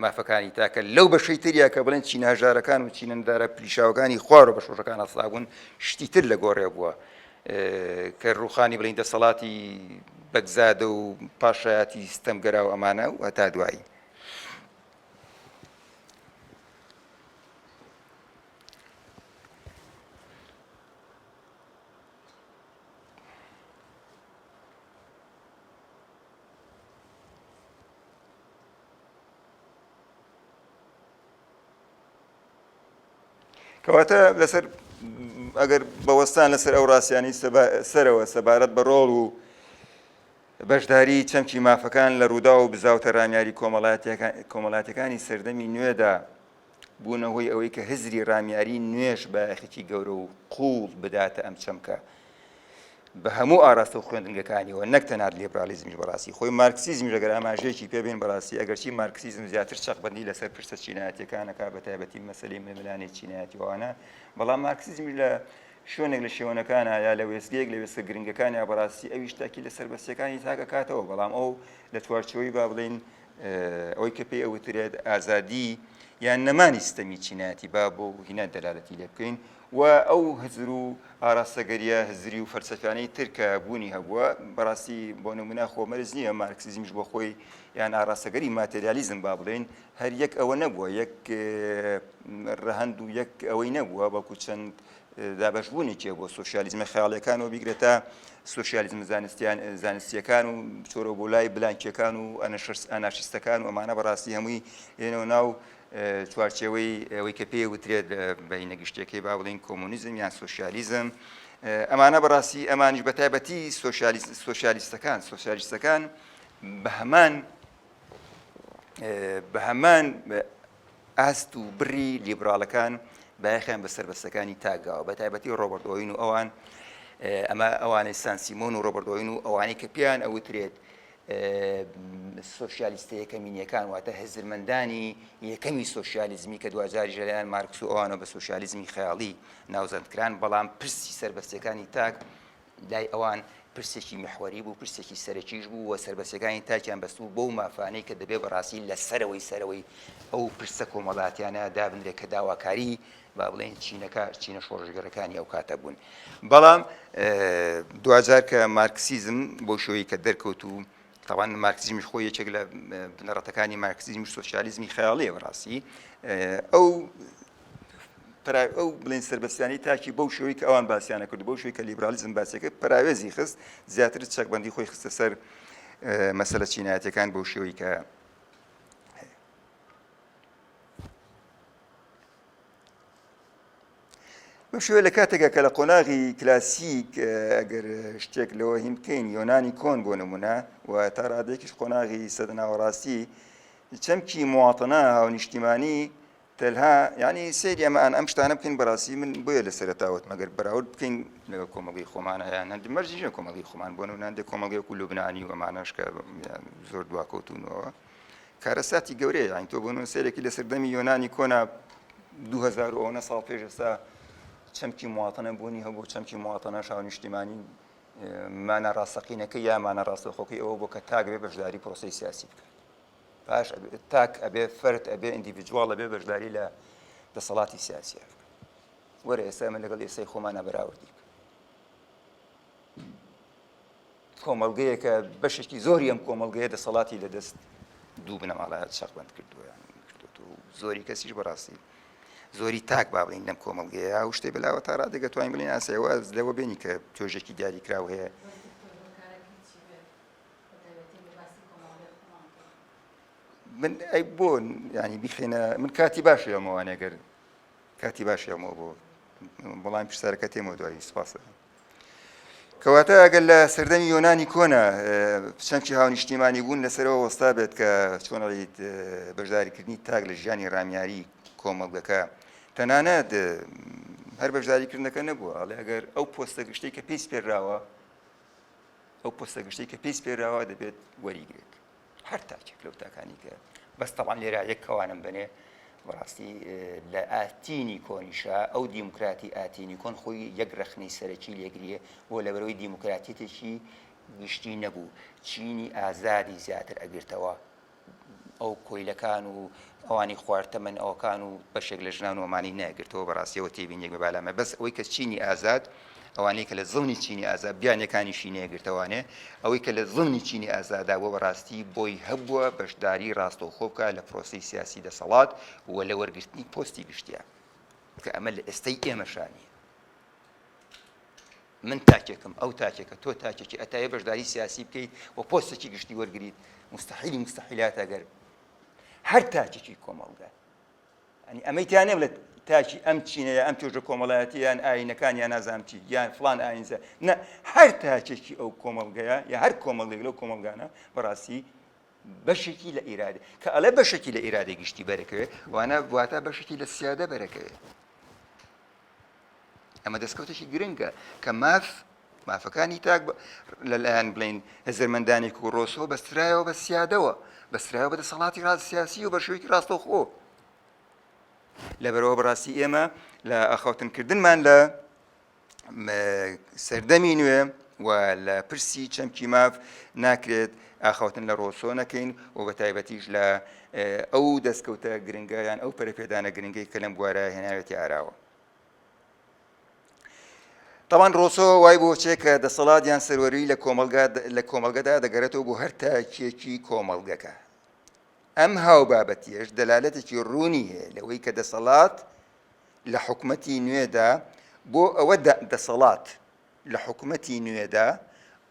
مافەکانی تاکە لەو بەشەی تریا کە بڵێن چینە هەژارەکان و چینە ندارە پلیشاوەکانی خوارەوە بە شۆژەکان هەستا بوون شتی تر لە گۆڕێ بووە کە ڕوخانی بڵین دەسەڵاتی بەگزادە و پاشایەتی ستەمگەرا و ئەمانە و هەتا دوایی کەواتە لەسەر ئەگەر بەوەستان لەسەر ئەو ڕاستیانی سەرەوە سەبارەت بە ڕۆڵ و بەشداری چەمکی مافەکان لە ڕوودا و بزاوتە ڕامیاری کۆمەڵاتەکانی سەردەمی نوێدا بوونە هۆی ئەوەی کە هزری ڕامیاری نوێش بایەخێکی گەورە و قووڵ بداتە ئەم چەمکە بە هەموو ئاراستە و خوێندنگەکانیەوە نەک تەنات لیبرالیزمیش بەڕاستی خۆی مارکسیزمیش ئەگەر ئاماژەیەکی پێبین بەڕاستی ئەگەرچی مارکسیزم زیاتر چەقبندی لەسەر پرسە چینایەتەکانەکە بە تایبەتی مەسلی ململانی چینایەتیوانە بەڵام مارکسیزمی لە شوێنێک لە شێوەنەکانە یا لە وێستگەیەک لە وێستە گرنگەکانیا بەڕاستی ئەویش تاکی لە سەربەستەکانی تاکەکاتەوە بەڵام ئەو لە چوارچەوەی با بڵین ئەوەی کە پێی ئەوترێت ئازادی یان نەمانی ستەمی چینایەتی با بۆ هینا دەلالەتی لێ بکەین و ئەو هزر و ئاراستەگەریە هزری و فەلسەفیانەی ترکە بوونی هەبووە بەڕاستی بۆ نمونا خۆمەرز نییە مارکسیزمیش بۆ خۆی یان ئاراستەگەری ماتریالیزم با بڵێن هەر یەک ئەوە نەبووە یەک ڕەهند و یەک ئەوەی نەبووە بەڵکو چەند دابەشبوونێکیە بۆ سۆسیالیزمە خەیاڵیەکانەوە بیگرە تا سوسیالیزم زانستیان زانستیەکان و چۆرە بۆ لای بلانکیەکان و ئەناشستەکان و ئەمانە بەڕاستی هەمووی لێنەوە ناو چوارچەوەی ئەوەی کە پێی وترێت بەینە گشتەکەی با بڵین کۆمونیزم یان سوسیالیزم ئەمانە بەڕاستی ئەمانش بە تایبەتی سوسیالیستەکان سوسیالیستەکان بە هەمان بە هەمان ئاست و بڕی لیبراڵەکان بایەخیان بە سەربەستەکانی تاکگاوە بە تایبەتی ڕۆبەرت ئۆین و ئەوان ئەمە ئەوانەی سانسیمۆن و ڕۆبەرت ئۆین و ئەوانەی کە پێیان ئەوترێت سوسیالیستە یەکەمینیەکان واتە هزرمەندانی یەکەمی سوسیالیزمی کە دوجاری ژەریان مارکس و ئەوانە بە سوسیالیزمی خەیاڵی ناوزەندکران بەڵام پرسی سربەستەکانی تاک لای ئەوان پرسێکی میحوەری بوو پرسێکی سەرەکیش بوو و سربەسەکانی تاکیان بەستبوو بەو مافانەی کە دەبێ بەڕاستی لە سەرەوەی سەرەوەی ئەو پرسە کۆمەڵاتیانە دابنرێت کە داواکاری با بڵێن چینەکە چینە شۆڕژگەرەکانی ئەو کاتە بوون بەڵام دوجار کە مارکسیزم بۆ شوی کە دەرکەوت و تاوان مارکسیزمی خۆی یەکێک لە بنەڕەتەکانی مارکسیزمی سوسیالیزمی خەیاڵەیە بەڕاستی ئەو پرا ئەو بڵێن سەربەستیانەی تاکی بەو شوی کە ئەوان باسییانە کرد بەو شوی کە لیبرالیزم باسەکە پراوێزی خست زیاتر چەکبندی خۆی خستە سەر مەسەلە چینایەتەکان بەو شێوەی کە بشوێ لە کاتێکە کە لە قۆناغی کلاسیک ئەگەر شتێک لەوە هیم بکەین یۆنانی کۆن بۆ نمونە و تا ڕادێکیش قۆناغی سەدناوەڕاستی چەمکی مواتەنا هاونیشتیمانی تەلها یانی سەیری ئەمە ئان ئەم شتانە بکەین بەڕاستی من بۆیە لە سەرەتا وتمە گەر بەراورد بکەین لەگەڵ کۆمەڵی خۆمان هەیان هەندی مەرجی ژە کۆمەڵی خۆمان بۆن و ناندێک کۆمەڵی وەکو لوبنانی و ئەمانەش کە زۆر دواکەوتونەوە کارەساتی گەورەیە یان تۆ بۆن سەرێکی لە سەردەمی یۆنانی کۆنا 2000 ئەوە ساڵ پێش ئێستا چەمکی مواتەنە بوونی هەبوو چەمکی مواتەنە شاو نیشتیمانی مانە ڕاستەقینەکە یامانە ڕاستەخۆکەی ئەوە بۆ کە تاگرێ بەشداری پرۆسی سیاسی بکە پاش ئەبێ تاک ئەبێ فەرد ئەبێ ئیندیڤیدواڵ ئەبێ بەشداری لە دەسەڵاتی سیاسیە بکەن وەرە ئێستا ئەمە لەگەڵ ئێسای خۆمانە بەراوردی بکەن کۆمەلگەیەکە بەشێکی زۆری ئەم کۆمەلگەیە دەسەڵاتی لە دەست دوو بنەماڵە چەقبند کردویان کردو زۆری کەسیش بەڕاستی زۆری تاک باڵین لەم کۆمەلگەیە و شتێ بەلاوە تا ڕادێکە توانین بڵین ئاسەوە لەوە بینی کە تۆژێکی دیاریکراو هەیە من ئەی بۆ ینی بیخینە من کاتی باش ئەمەوانێ گەر کاتی باش ئەمەوە بۆ بەڵام پرسیارەکە تێمە دوایی سپاس کەواتە ئەگەر لە سەردەمی یۆنانی کۆنا چەمکی هاونیشتیمانی بوون لەسەرەوە وەستا بێت کە چۆنڵیت بەشداریکردنی تاک لە ژیانی رامیاری کۆمەڵگەکە تەنانەت هەر بەشداریکردنەکە نەبووە ئەڵێ ئەگەر ئەو پۆستە گشتی کە پێی پێراوە ئەو پۆستە گشتەی کە پێی سپێراوە دەبێت وەریگرێت هەر تاکێک لەو تاکانی کە بەس تەوان لێرا یەک کەوانم بنێ بەڕاستی لە ئاتینی کۆنیشا ئەو دیموکراتی ئاتینی کۆن خۆی یەک رەخنەی سەرەکی لێگریە بۆ لەبەرەوەی دیموکراتیتێکی گشتی نەبوو چینی ئازادی زیاتر ئەگرتەوە ئەو کۆیلەکان و ئەوانی خوار تەمەن ئەوکان و بەشێک لە ژنان ومانی نەگرتەوە بەڕاستیەوە تێبینێک بە بالامە بەس ئەوەی کە چینی ئازاد ئەوانەی کە لە زڵنی چینی ئازاد بیانەکانیشی نێگرتەوانێ ئەوەی کە لە زڵنی چینی ئازادا بۆ بەڕاستی بۆی هەبووە بەشداری ڕاستەوخۆ بکە لە پرۆسی سیاسی دەسەڵات و لە وەرگرتنی پۆستی گشتیان کە ئەمە لە ئێستای ئێمەشانیە من تاکێکم، ئەو تاکێکە، تۆ تاکێکی، ئەتاێ بەشداری سیاسی بکەیت و پۆستێکی گشتی وەرگریت، موستەحیلی موستەحیلاتە گەر هەر تاکێکی کۆمەڵگە ئەنی ئەمەی تیا نەبێت تاکی ئەم چینە یا ئەم توێژە کۆمەڵایەتیان ئاینەکان یا نازانچی یان فلان ئاینزە نە هەر تاکێکی ئەو کۆمەڵگەیە یا هەر کۆمەڵێک لەو کۆمەلگانە بەڕاستی بەشێکی لە ئیرادە کە ئەڵێ بەشێکی لە ئیرادەی گشتی بەرەکەوێ وانە واتا بەشێکی لە سیادە بەرەکەوێ ئەمە دەستکەوتێکی گرنگە کە ماف مافەکانی تاک لەلایەن بڵین هزرمەندانی و ڕۆسۆ بەسترایەوە بە سیادەوە بەسترایەوە بە دەسەڵاتی ڕاست سیاسی و بە شوێکی ڕاستە خۆ لەبەرەوە بەڕاستی ئێمە لە ئەخوتنکردنمان لە سەردەمی نوێ و لە پرسی چەمکی ماف ناکرێت ئاخوتن لە ڕۆسۆ نەکەین و بە تایبەتیش لە ئەو دەستکەوتە گرنگیان ئەو پەرپێدانە گرنگی کە لەم بوارە هێناوێتی ئاراوە تاوان ڕۆسۆ وای بۆچێ کە دەسەڵات یان سەروەری لە کۆمەلگا لە کۆمەلگەدا دەگەرێتەوە بۆ هەر تاکیەکی کۆمەلگەکە ئەم هاو بابەتیش دەلالەتێکی ڕوونی هەیە لەوەی کە دەسەڵات لە حکومەتی نوێدا بۆ ئەوە دا دەسەڵات لە حکومەتی نوێدا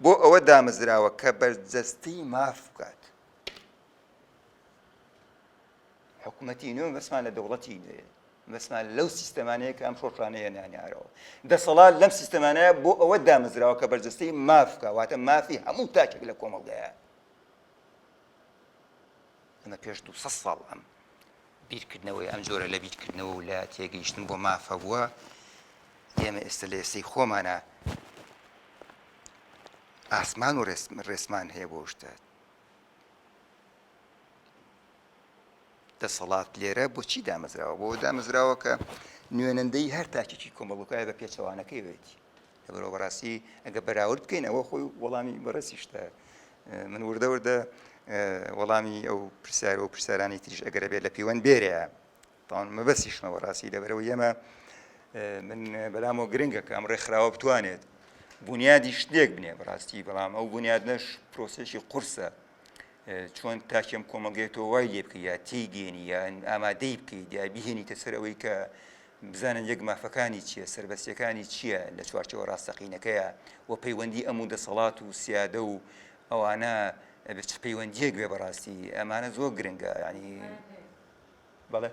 بۆ ئەوە دامەزراوە کە بەرجەستەی ماف بکات حکومەتی نوێ بەسمان لە دەوڵەتی نوێ بەسمان لەو سیستەمانەیە کە ئەم شۆڕشانەیە نانیارەوە دەسەڵات لەم سیستەمانەیە بۆ ئەوە دامەزراوە کە بەرجەستەی مافکە واتە مافی هەموو تاکێک لە کۆمەڵگەیە ئەمە پێش دوو سەد ساڵ ئەم بیرکردنەوەی ئەم جۆرە لە بیرکردنەوە و لە تێگەیشتن بۆ مافە بووە ئێمە ئێستا لە ئێستەی خۆمانە ئاسمان و ڕێسمان هەیە بۆ شتە دەسەڵات لێرە بۆچی دامەزراوە بۆ دامەزراوە کە نوێنەندەی هەر تاکێکی کۆمەڵگوکایە بە پێچەوانەکەی بێتی لەبەرئەوە بەڕاستی ئەگەر بەراورد بکەین ئەوە خۆی وەڵامی بەڕێزی شتە من وردە وردە وەڵامی ئەو پرسیار و پرسیارانی تریش ئەگەرە بێت لە پیوەند بێرەیە تاوان مەبەسیشمە بەڕاستی لەبەرەوە ئێمە من بەلامەوە گرنگە کە ئەم ڕێکخراوە بتوانێت بنیادی شتێک بنێ بەڕاستی بەڵام ئەو بنیاد نەش پرۆسێکی قورسە چۆن تاکێم کۆمەڵگەی تۆ وای لێ بکە یا تێگەێنی یان ئامادەی بکەیت یا بهێنیتە سەر ئەوەی کە بزانن یەک مافەکانی چیە، سەربەستیەکانی چیە، لە چوارچێوە ڕاستەقینەکەیا و پەیوەندی ئەم و دەسەڵات و سیادە و ئەوانە چ پەیوەندیەک بێ بەڕاستی ئەمانە زۆر گرنگە یانی بەڵێ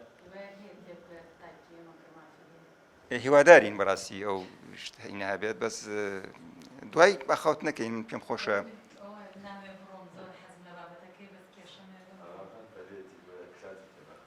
هیوادارین بەڕاستی ئەو شتهینە بێت بەس دوای بەخەوت نەکەین من پێم خۆشە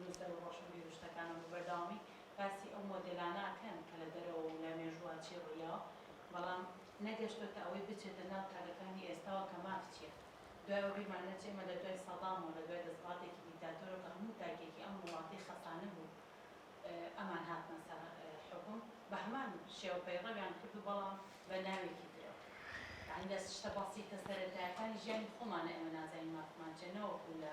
نووسەر و ڕۆشنبیرو شتەکانە بە بەردەوامی باسی ئەو مۆدێلانە ئەکەن کە لە دەرەوە و لە مێژووە چی ڕوویداوە بەڵام نەگەشتۆتە ئەوەی بچێتە ناو تاکەکانی ئێستاوە کە ماف چیە دوای ئەوە بیرمان نەچێ ئێمە لە دوای سەدام و لە دوای دەسەڵاتێکی دیکتاتۆرەوە کە هەموو تاکێکی ئەم وڵاتەی خەسانبوو ئەمان هاتنە سەر حوکم بە هەمان شێوە پەیڕەویان کرد و بەڵام بە ناوێکی ترەوە یانی لە شتە بەسیتە سەرەتایەکانی ژیانی خۆمانە ئێمە نازانین مافمان چیە نەوەکو لە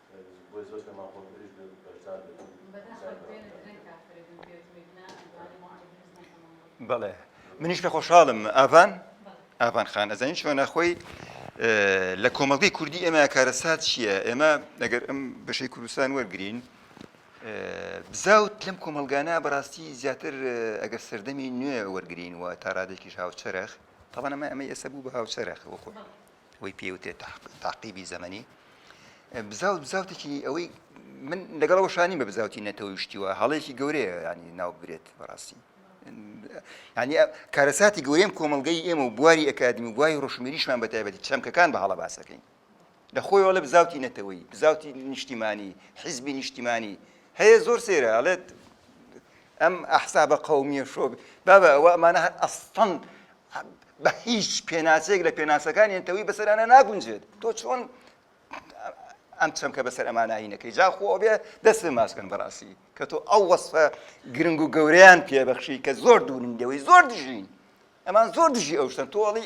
بۆیە زۆر شتە ماقوڵ تریش بێت و بەشدار بێت و بەداخەوە بێنە درەنگ کافرە بم پێت وت نا ئەدوانە مۆعەی دروست نەکەمەوە بەڵێ منیش کە خۆشحاڵم ئاڤان ئاڤان خان ئەزانین چۆنە خۆی لە کۆمەڵگەی کوردی ئێمە کارەسات چییە ئێمە ئەگەر ئەم بەشەی کوردستان وەرگین بزاوت لەم کۆمەلگانا بەڕاستی زیاتر ئەگەر سەردەمی نوێ وەرگین و تاڕادێکیش هاوچەرخ تاوانەمە ئەمە ئێستا بوو بە هاوچەرخ وەخۆ وەی پێ وترێت تاقیبی زەمەنی بزاوت بزاوتێکی ئەوەی من لەگەڵ وەشانی بە بزاوتی نەتەوەی شتیوە هەڵێکی گەورەیە ینی ناو برێت بەڕاستی ینی کارەساتی گەورەم کۆمەلگەی ئێمە و بواری ئەکادمی و بوای ڕۆشمیریشمان بە تایبەتی چەمکەکان بە هەڵە باسەکەین لە خۆی وڵە بزاوتی نەتەوەی بزاوتی نیشتیمانی حیزبی نیشتیمانی هەیە زۆر سێرە ئەڵێت ئەم ئەحسابە قومیە شۆ بابە ئەوە ئەمانە هەر ئەستەن بە هیچ پێناسەیەک لە پێناسەکانی نەتەوەی بەسەرانە ناگونجێت تۆ چۆن ئەم چەمکە بەسەر ئەمانایینەکەی جاخۆ ئەوێ دەست پێ ماسکن بەڕاستی کە تۆ ئەو وەسفە گرنگ و گەوریان پێبەخشی کە زۆر دوورن لەوەی زۆر دژین ئەمان زۆر دژی ئەو شتن تۆڵی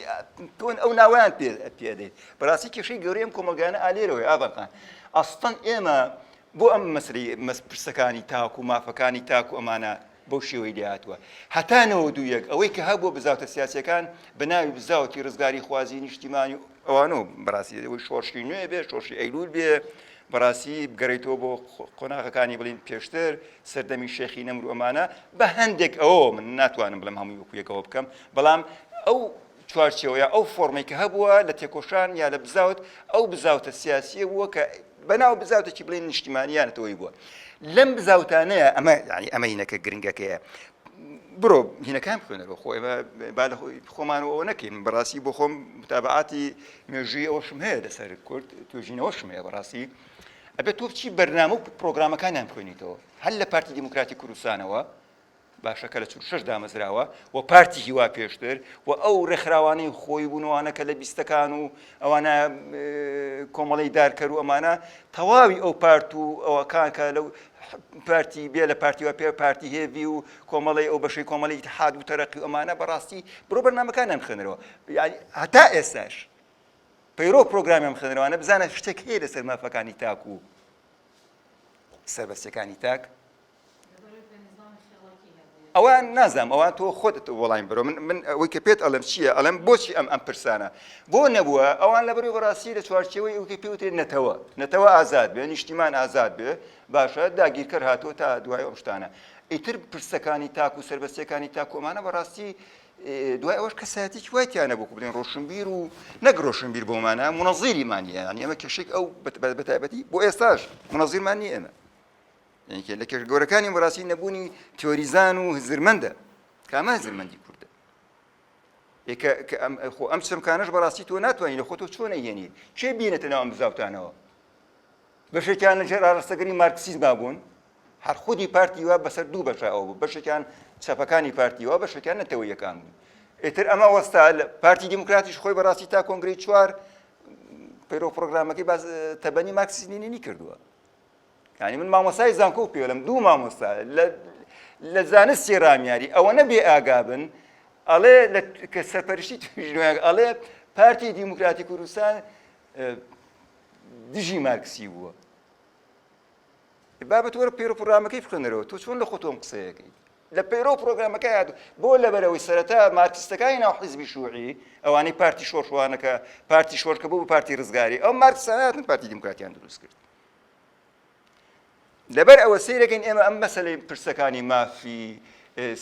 تۆن ئەو ناویان پێدەیت بەڕاستی کێشەی گەورەیەم کۆمەلگانە ئالێرەوەی ئاڤەکان ئەستان ئێمە بۆ ئەم مەسەلەی مەس پرسەکانی تاک و مافەکانی تاک و ئەمانە بەو شێوەی لێهاتووە هەتا نەوەد و یەک ئەوەی کە هەبووە بزاوتە سیاسیەکان بە ناوی بزاوتی ڕزگاری خوازی نیشتیمانی و ئەوانە و بەڕاستی ئەوەی شۆڕشی نوێ بێ شۆڕشی ئەیلول بێ بەڕاستی بگەڕێیتەوە بۆ قۆناغەکانی بڵین پێشتر سەردەمی شێخی نەمر و ئەمانە بە هەندێک ئەوە من ناتوانم بڵم هەمووی وەکویەکەوە بکەم بەڵام ئەو چوارچێوە یا ئەو فۆرمەی کە هەبووە لە تێکۆشان یا لە بزاوت ئەو بزاوتە سیاسییە بووە کە بەناو بزاوتێکی بڵێن نیشتیمانیانەتەوەی بووە لەم بزاوتانەیە ئەمە ینی ئەمە هینەکە گرنگەکەیە برۆ هینەکان بخوێنەوە خۆ ئێمە با لە خۆمانەوە ئەوە نەکەین بەڕاستی بۆ خۆم متابعاتی مێژووی ئەوەشم هەیە لەسەر کورد توێژینەوەشم هەیە بەڕاستی ئەبێت تۆ بچی بەرنامە و پرۆگرامەکانیان بخوێنیتەوە هەر لە پارتی دیموکراتی کوردستانەوە باشە کە لە چل و شەش دامەزراوە و پارتی هیوا پێشتر و ئەو ڕێکخراوانەی خۆی بوون وانە کە لە بیستەکان و ئەوانە کۆمەڵی دارکەر و ئەمانە تەواوی ئەو پارت و ئەوەکان کە لەو پارتی بێ لە پارتی و پێ پارتی هێوی و کۆمەڵی ئەو بەشەی کۆمەڵی حاد و تەرەقی و ئەمانە بەڕاستی برۆ بەرنمەکانیان خوێنەرەوە هەتا ئێستاش پەیرۆ پرۆگرامیان خوێنەرەوانە بزانە شتێک هەیە لەسەر مافەکانی تاک و سەربەستەکانی تاک ئەوە نازانم ئەوە تۆ خۆتت وەڵایم بەرەوە من من ئەوەی کە پێت ئەڵم چییە ئەڵم بۆچی ئەم ئەم پرسانە بۆ نەبووە ئەوان لە بەروی بەڕاستی لە چوارچەوەی ئەوکە پێوتێت نەتەوە نەتەوە ئازاد بێ نیشتیمان ئازاد بێ باشە داگیرکەر هاتۆ تا دوای ئەم شتانە ئیتر پرسەکانی تاک و سربەستەکانی تاکۆمانە بەڕاستی دوای ئەوەش کەسایەتی وای تیانە بۆ بدەین ڕۆشنبیر و نەک ڕۆشنبیر بۆمانە منەزیریمانە ئەمە کەشێک ئەو بەتایبەتی بۆ ئێستاش منەزیرمان نیە ئێمە یەکێ لە کێشە گەورەکانی بەڕاستی نەبوونی تیۆریزان و هزرمەندە کامە هزرمەندی کوردە خۆ ئەم چەمکانەش بەڕاستی تۆ ناتوانانی لە خۆتۆ چۆن نەیێنی کێ بینێتە ناوم بزاوتانەوە بەشێکیان لە ژێر ئاڕستەگەری مارکسیزما بوون هەر خودی پارتی وا بەسەر دوو بەشە ئەو بوو بەشێکیان چەپەکانی پارتی وا بەشەکان نەتەوە یەکان بوون ئێتر ئەمە وەستا پارتی دیموکراتیش خۆی بەڕاستی تا کۆنگری چوار پەیرۆ پرۆگرامەکەی باز تەبەنی مارکسیزمی نینی کردووە یعنی من مامۆستای زانکۆ و پێلم دوو مامۆستا لە زانستی رامیاری ئەوە نەبێ ئاگابن ئەڵێ کە سەرپەرشتی توژنۆیان ئەڵێ پارتی دیموکراتی کوردستان دژی مارکسی بووە بابەت وەرە پێرو پرامەکەی بخێنەرەوە تۆ چۆن لە خۆتۆم قسەیەکەی لە پەیرەو پرۆگرامەکەی هاتوو. بۆ لەبەرئەوەی سەرەتا مارکسیستەکانی ناو حیزبی شوعی، ئەوانەی پارتی شۆرش وانە کە پارتی شۆرش کە بوو بە پارتی رزگاری، ئەو مارکسانە هاتن پارتی دیموکراتیان دروست کرد. لەبەر ئەوە سەیرەکەین ئێمە ئەم مەسەلەی پرسەکانی مافی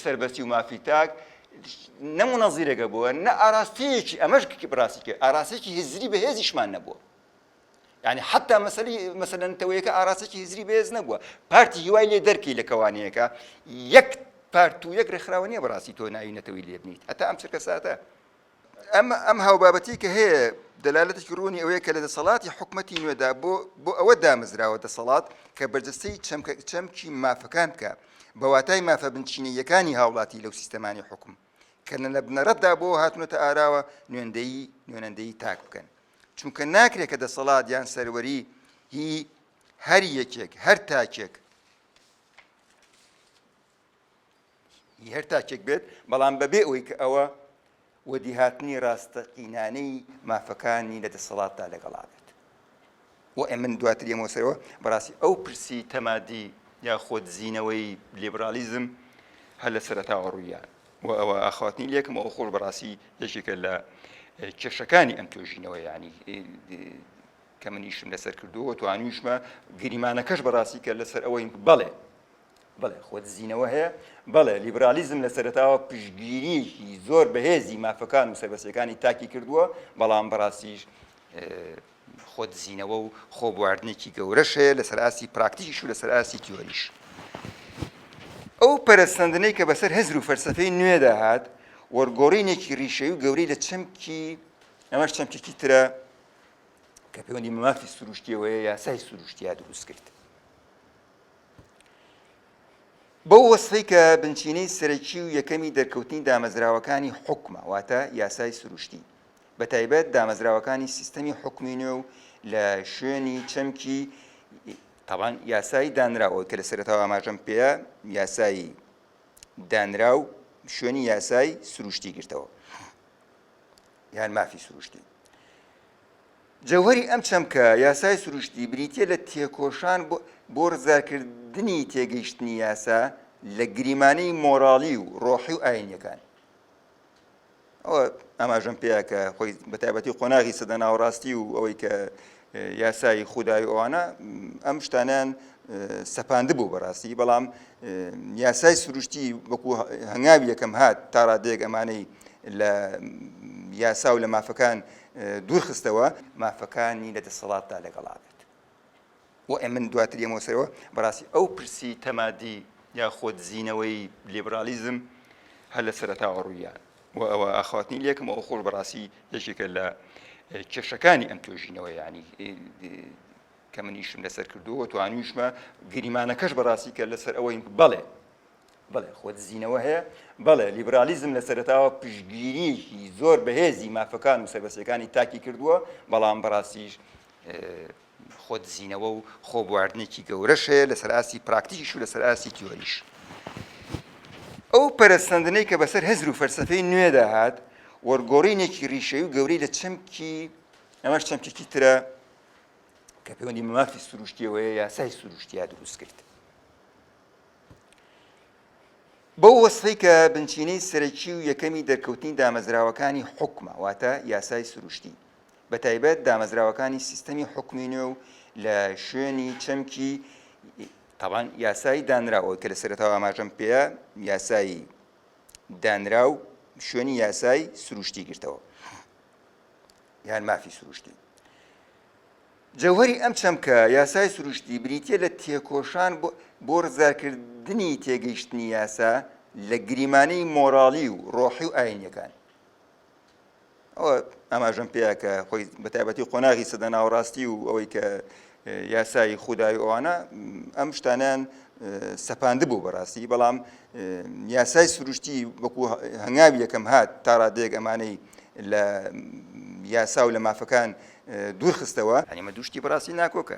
سەربەستی و مافی تاک نە مونەزیرەگە بووە نە ئاراستەیەکی ئەمەش بڕاستی کرد ئاراستەیەکی هزری بەهێزیشمان نەبووە. یانی حتا مەسەلی مەسەلە نەتەوەیەکە ئاراستەی هزری بەهێز نەبووە پارتی هیوای لێ دەرکەی لە کەوانەیەەکە یەک پارت و یەک ڕێکخراوە نیە بەڕاستی تۆ ناوی نەتەوەی لێ بنیت هەتا ئەم چرکە ساتە ئەم ئەم هاوبابەتی کە هەیە دەلالەتێکی ڕوونی ئەوەیە کە لە دەسەڵاتی حکوومەتتی نوێدا بۆ بۆ ئەوە دامەزراوە دەسەڵات کە بەرجەستەی چەمکە چەمکی مافەکان بکە بە واتای مافە بنچینەیەکانی هاوڵاتی لەو سیستەمانی حکوم کە لە نەبنەڕەتدا بۆ هاتنەتە ئاراوە نوێندەی نوێنەندەی تاک بکەن چونکە ناکرێت کە دەسەڵات یان سەروەری هی هەر یەکێک هەر تاکێک هەر تاکێک بێت بەڵام بەبێ ئەوی کە ئەوە وەدیهاتنی ڕاستەقینانەی مافەکانی لە دەسەڵاتدا لەگەڵا بێت و من دواتر یەمەوە سەرەوە بەڕاستی ئەو پرسی تەمادی یا خۆدزینەوەی لیبڕاڵیزم هەر لە سەرەتاوە ڕوویان و ئەوە ئاخواتنی لێکم ئەو خۆش بەڕاستی یەکێکە لە کێشەکانی ئەم توێژینەوە ینی کە منیشم لەسەر کردووە توانیشمە گریمانەکەش بەڕاستی کە لەسەر ئەوەی بەڵێ بڵێ خۆدزینەوە هەیە بەڵێ لیبرالیزم لە سەرتاوە پشگیریەکی زۆر بەهێزی مافەکان و سەربەسەکانی تاکی کردووە بەڵام بەڕاستیش خۆ دزینەوە و خۆ بواردنێکی گەورەش هەیە لەسەر ئاستی پراکتیکیش و لەسەر ئاستی تیۆریش. ئەو پەرەسەندنەی کە بەسەر هزر و فەلسەفەی نوێدا هات، وەرگۆڕینێکی ڕیشەیی و گەورەی لە چەمکی، ئەمەش چەمکێکی ترە کە پەیوەندی بە مافی سروشتییەوە هەیە، یاسای سروشتییە دروست کرد. بەو وەسفەی کە بنچینەی سەرەکی و یەکەمی دەرکەوتنی دامەزراوەکانی حوکمە، واتە یاسای سروشتی. بە تایبەت دامەزراوەکانی سیستەمی حکومی نوێ و لە شوێنی چەمکی تاوان یاسایی دانراوە کە لە سەرەتاوە ئاماژەم پێە یاسایی دانراو شوێنی یاسای سروشتی گرتەوە یان مافی سروشتی جەوهری ئەم چەمکە یاسای سروشتی بریتە لە تێکۆشان بۆ ڕزارکردنی تێگەیشتنی یاسا لە گریمانەی مۆراڵی و ڕۆحی و ئاینەکان ئەوە ئاماژەم پێیا کە خۆی بە تایبەتی قۆناغی سەدە ناوەڕاستی و ئەوەی کە یاسایی خودایی ئەوانە ئەم شتانیان سەپاند بوو بەڕاستی بەڵام یاسای سروشتی وەکو هەنگاوی یەکەم هات تا ڕادێک ئەمانەی لە یاسا و لە مافەکان دوورخستەوە مافەکانی لە دەسەڵاتدا لەگەڵا بێت وەئە من دواتر یەمەوە سەرەوە بەڕاستی ئەو پرسی تەمادی یاخۆد زینەوەی لیبڕاڵیزم هەر لە سەرەتاوە ڕوویە و ئەوە ئاخواتنی لێکم ئەو خۆش بەڕاستی یەکێکە لە کێشەکانی ئەم توێژینەوە ینی کە منیشم لەسەر کردووە توانیشمە گریمانەکەش بەڕاستی کە لەسەر ئەوەی بەڵێ بڵێ خۆت زیینەوە هەیە بەڵێ لیبرالیزم لە سەرتاوە پشگیریی زۆر بەهێزی مافەکان و سەربەسەکانی تاکی کردووە بەڵام بەڕاستیش خۆدزینەوە و خۆبواردنێکی گەورەش هەیە لەسەر ئاستی پراکتیکیش و لەسەر ئاستی تیۆریش. ئەو پەرەسەندنەی کە بەسەر هزر و فەلسەفەی نوێدا هات، وەرگۆڕینێکی ڕیشەیی و گەورەی لە چەمکی، ئەمەش چەمکێکی ترە کە پەیوەندی بە مافی سروشتییەوە هەیە، یاسای سروشتییە دروست کرد. بەو وەسفەی کە بنچینەی سەرەکی و یەکەمی دەرکەوتنی دامەزراوەکانی حوکمە، واتە یاسای سروشتی. بەتایبەت دامەزراوەکانی سیستەمی حوکمی نوێ و لە شوێنی چەمکی تابان یاسایی دانراو ئەوەی کە لە سەرەتاوە ئاماژەم پێیە یاسایی دانراو شوێنی یاسای سروشتی گرتەوە یان مافی سروشتی جەوهری ئەم چەمکە یاسای سروشتی بریتە لە تێکۆشان بۆ ڕزارکردنی تێگەیشتنی یاسا لە گریمانەی مۆراڵی و ڕۆحی و ئاینەکان ئەوە ئاماژەم پێیا کە خۆی بە تایبەتی قۆناغی سەدە ناوەڕاستی و ئەوەی کە یاسایی خودداوی ئەوانە ئەم شتانیان سەپاند بوو بەڕاستی بەڵام یاسای سروشتی وەکو هەنگاوی یەکەم هات تا ڕادێک ئەمانەی لە یاسا و لە مافەکان دوورخستەوە ئەمە دوشتی بەڕاستی ناکۆکە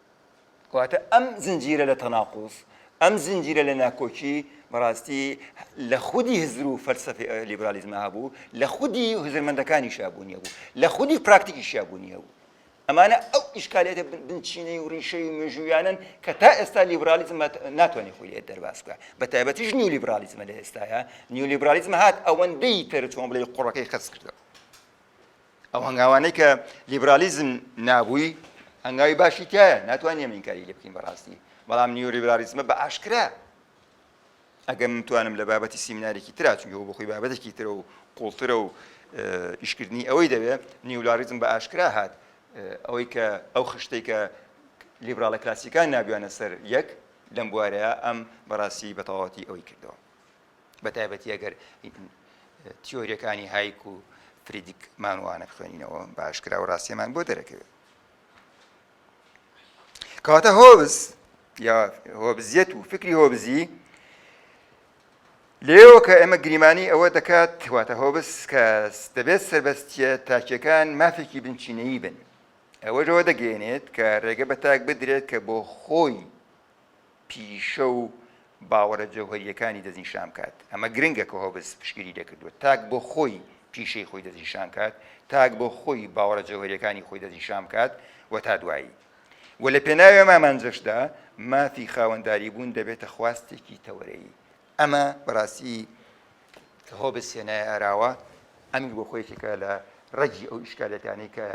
کەواتە ئەم زنجیرە لە تەناقوز، ئەم زنجیرە لە ناکۆکی بەڕاستی لە خودی هزر و فەلسەفەی لیبرالیزما هەبوو، لە خودی هزرمەندەکانیشا بوونی هەبوو، لە خودی پراکتیکیشا بوونی هەبوو. ئەمانە ئەو ئیشکالیاتە بنچینەی و ڕیشەی و مێژووییانەن کە تا ئێستا لیبرالیزم ناتوانێت خۆی لێ دەرباز بکات، بەتایبەتیش نیولیبرالیزم لە ئێستایا، نیولیبرالیزم هات ئەوەندەی تر چۆن بڵێی قوڕەکەی خەست کردەوە. ئەو هەنگاوانەی کە لیبرالیزم نابووی هەنگاوی باشی تایە ناتوانانی ئەمە ئینکاری لێ بکەین بەڕاستی بەڵام نیولیبرالیزمە بە ئاشکرا ئەگەر من توانم لە بابەتی سیمینارێکی ترا چونکە بۆ خۆی بابەتێکی ترە و قوڵترە و ئیشکردنی ئەوەی دەوێت نیولاریزم بە ئاشکرا هات ئەوەی کە ئەو خشتەی کە لیبراڵە کلاسیکان نابیانە سەر یەک لەم بوارەیە ئەم بەڕاستی بەتەواتی ئەوەی کردەوە بە تایبەتی ئەگەر تیۆریەکانی هایک و فریدیک مانوانە بخوێنینەوە باشکرا و ڕاستیمان بۆ دەرەکەوێت کەواتە هۆبز یا هۆبزیەت و فکری هۆبزی لێەوە کە ئێمە گریمانی ئەوە دەکات واتە هۆبس کە دەبێت سربەستە تاکیەکان مافێکی بنچینەیی بن ئەوەشەوە دەگەێنێت کە ڕێگە بە تاک بدرێت کە بۆ خۆی پیشە و باوەڕە جەوهەرییەکانی دەستنیشان بکات، ئەمە گرنگە کە هۆبز پشتگیری لێکردووە تاک بۆ خۆی پیشەی خۆی دەستنیشان کات، تاک بۆ خۆی باوەڕە جەوهەرییەکانی خۆی دەستنیشان بکات و تا دوایی. وە لە پێناوی ئەم ئامانجەشدا مافی خاوەنداریبوون دەبێتە خواستێکی تەوەرەیی. ئەمە بەڕاستی کە هۆبز هێنایە ئاراوە، ئەمیش بۆ خۆی یەکێکە لە ڕەگی ئەو ئیشکالیەتانەی کە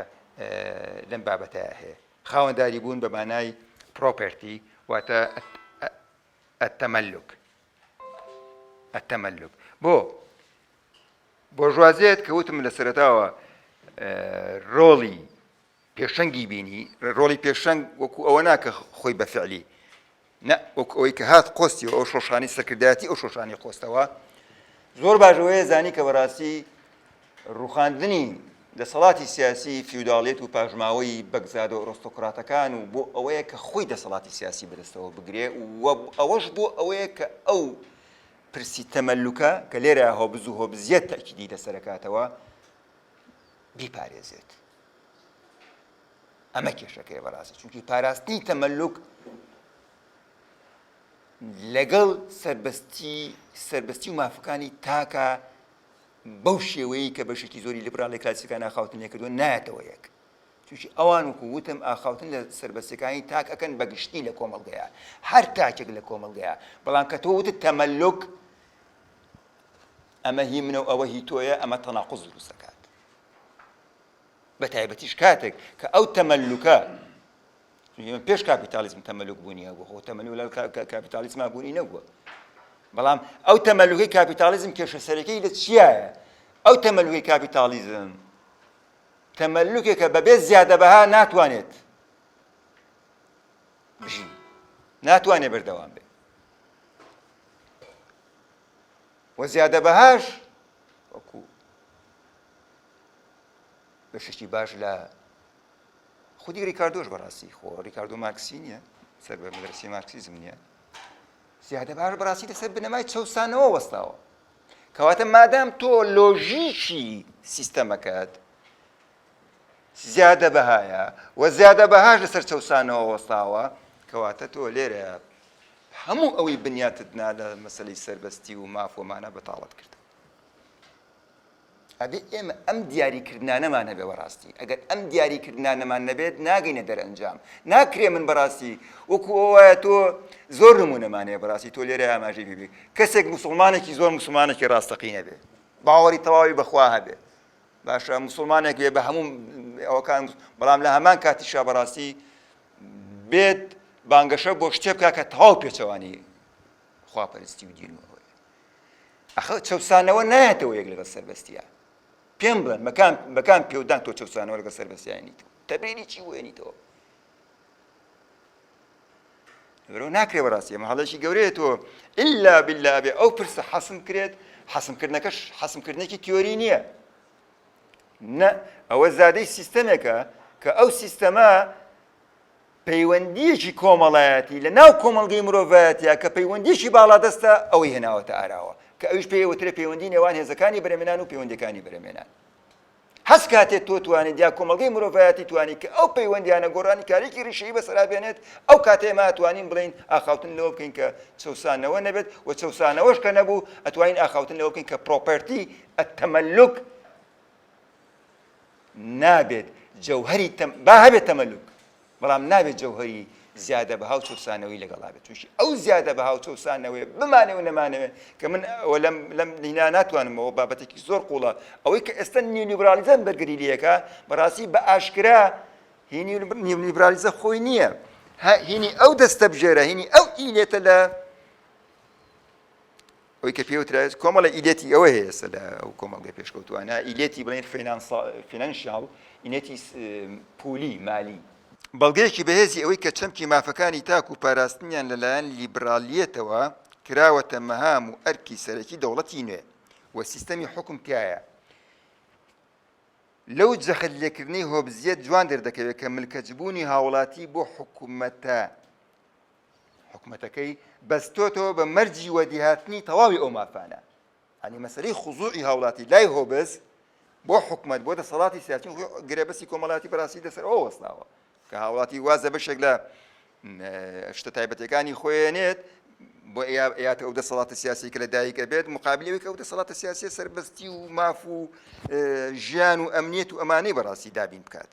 لەم بابەتە هەیە. خاوەنداری بوون بە مانای پرۆپێرتی واتە التملک التملک بۆ بۆرژوازێت کە وتم لە سەرتاوە ڕۆڵی پێشەنگی بینی ڕۆڵی پێشەنگ وەکو ئەوە ناکە خۆی بە فعلی نا وەکو ئەوەی کە هات قۆستی و ئەو شۆشانی سەرکردایەتی ئەو شۆشانی قۆستەوە زۆر باشەوەیە زانی کە بەڕاستی ڕوخاندنی دەسەڵاتی سیاسی فیوداڵێت و پاژماوەی بەگزادە و ئۆرۆستۆکراتەکان و بۆ ئەوەیە کە خۆی دەسەڵاتی سیاسی بەدەستەوە بگرێ و ئەوەش بۆ ئەوەیە کە ئەو پرسی تەمەلوکە کە لێرە هۆبز و هۆبزیەت تەکیدی لەسەرکاتەوە بیپارێزێت ئەمە کێشەکەیە بەڕاستی چونکی پاراستنی تەمەلوک لەگەڵ سربەستی سربەستی و مافەکانی تاکە بەو شێوەیە کە بەشێکی زۆری لیبراڵی کلاسیکان ئاخاوتن لێکردوە نایەتەوە یەک چونکی ئەوان وکو وتم ئاخاوتن لە سربەستەکانی تاک ئەەکەن بەگشتی لە کۆمەڵگەیە هەر تاکێک لە کۆمەڵگەیە بەڵام کە تۆ وتت تەمەلوک ئەمە هی منە و ئەوە هی تۆیە ئەمە تەناقز دروستەکە بە تایبەتیش کاتێک کە ئەو تەمەلوکە پێش کاپیتالیزم تەمەلوک بوونی هەبوو خۆ تەمەلولا کاپیتالیزما بوونی نەبووە بەڵام ئەو تەمەلوگەی کاپیتالیزم کێشە سەرەکەی لە چیایە ئەو تەمەلوگەی کاپیتالیزم تەمەلوکێکە بەبێ زیادە بەها ناتوانێت بژی ناتوانێت بەردەوام بێت وە زیادە بەهاش وەکو بەشێکی باش لە خودی ریکاردۆش بەڕاستی خۆ ریکاردۆ مارکسی نییە سەر بە مدرسی مارکسیزم نییە زیادە باش بەڕاستی لەسەر بنەمای چەسانەوە وەستاوە کەواتە مادام تۆ لۆژیکی سیستەمەکەت زیادە بەهایە و زیادە بەهاش لەسەر چەسانەوە وەستاوە کەواتە تۆ لێرە هەموو ئەوەی بنیاتت نا لە مەسلەی سەربەستی و مافۆمانە بەتاڵت کرد ئەبێ ئێمە ئەم دیاریکردنانەمان هەبێ بەڕاستی، ئەگەر ئەم دیاریکردنانەمان نەبێت ناگەینە دەرئەنجام، ناکرێ من بەڕاستی وەکو ئەو وایە تۆ زۆر نموونەمان هەیە بەڕاستی تۆ لێرە ئاماژەی پێ بکەی، کەسێک موسڵمانێکی زۆر موسڵمانێکی ڕاستەقینە بێ، باوەڕی تەواوی بە خوا هەبێ، باشە موسڵمانێک بێ بە هەموو ئەوەکان، بەڵام لە هەمان کاتیشا بەڕاستی بێت بانگەشە بۆ شتێ بکا کە تەواو پێچەوانەی خوا پەرستی و دین و ئەوەیە ئەخە چەوسانەوە نایەتەوە یەک لەگەڵ سەربەستیە پێم بڵێن بەکان بەکان پێودان تۆ چەوسانەوە لەگەڵ سەربەستیانیت تەبینی چی وێنیتەوە لەبەرەوە ناکرێ بەڕاستی ئەمە هەڵێکی گەورەیە تۆ ئللا بالله بێ ئەو پرسە حەسم کرێت حەسمکردنەکەش حەسمکردنێکی تیۆری نییە نە ئەوە زادەی سیستەمێکە کە ئەو سیستەمە پەیوەندییەکی کۆمەڵایەتی لە ناو کۆمەڵگەی مرۆڤایەتیا کە پەیوەندییەکی باڵادەستە ئەوەی هێناوەتە ئاراوە کە ئەویش پێی ئەوترێ پەیوەندی نێوان هێزەکانی بەرەمێنان و پەیوەندیەکانی بەرەمێنان هەست کاتێ تۆ توانیت یا کۆمەلگەی مرۆڤایەتی توانی کە ئەو پەیوەندیانە گۆرانی کارێکی ریشەی بەسەرا بێنێت ئەو کاتێ ئێمە ئەتوانین بڵین ئاخاوتن لەوە بکەین کە چەسانەوە نەبێت و چەسانەوەش کە نەبوو ئەتوانین ئاخاوتن لەوە بکەین کە پرۆپەرتی ئەتەمەلوک نابێت جەوهەری تەم با هەبێت تەمەلوک بەڵام نابێت جەوهەری زیادە بەها و چەسانەوەی لەگەڵا بێت چونکی ئەو زیادە بەها و چەسانەوەی بمانێ و نەمانەوێ کە من ئەوە لەم لەم لینا ناتوانمەوە بابەتێکی زۆر قوڵە ئەوەی کە ئێستا نیولیبرالیزم بەرگری لەکە بەڕاستی بە ئاشکرا هینی نیولیبرالیزە خۆی نییە هینی ئەو دەستە بژێرە هینی ئەو ئیلێتە لە ئەوەی کە پێ وترایێت کۆمەڵە ئیلێتی ئەوە هەیە ئێستا لە ئەو کۆمەڵگەی پێشکەوتووانە ئیلێتی بڵێن فینانسا فینانسیاڵ ئینێتی س- پولی مالی بەڵگەیەکی بەهێزی ئەوەی کە چەمکی مافەکانی تاک و پاراستنیان لە لایەن لیبرالیەتەوە کراوەتە مەهام و ئەرکی سەرەکی دەوڵەتی نوێ و سیستەمی حوکم تیایە. لەو جەخت لێکردنەی هۆبزیەت جوان دەردەکەوێت کە ملکەچبوونی هاوڵاتی بۆ حکومەتە، حکومەتەکەی بەستۆتەوە بە مەرجی وەدیهاتنی تەواوی ئەو مافانە هەنی مەسەری خزوعی هاوڵاتی لای هۆبز بۆ حکومت بۆ دەسەڵاتی سیاچین گرێبەسی کۆمەڵاتی پراسی دەسەر ئەو وەستاوە کە هاوڵاتی وازە بەشێک لە شتە تایبەتەکانی خۆێنێت بۆ ئەیات ئەو دەسەڵاتە سیاسی کە لە دایکە بێت مقابلەوەی کە ئەو دەسەڵاتە سیاسی سربەستی و ماف و ژیان و ئەمنیەت و ئەمانەی بەڕاستی دابین بکات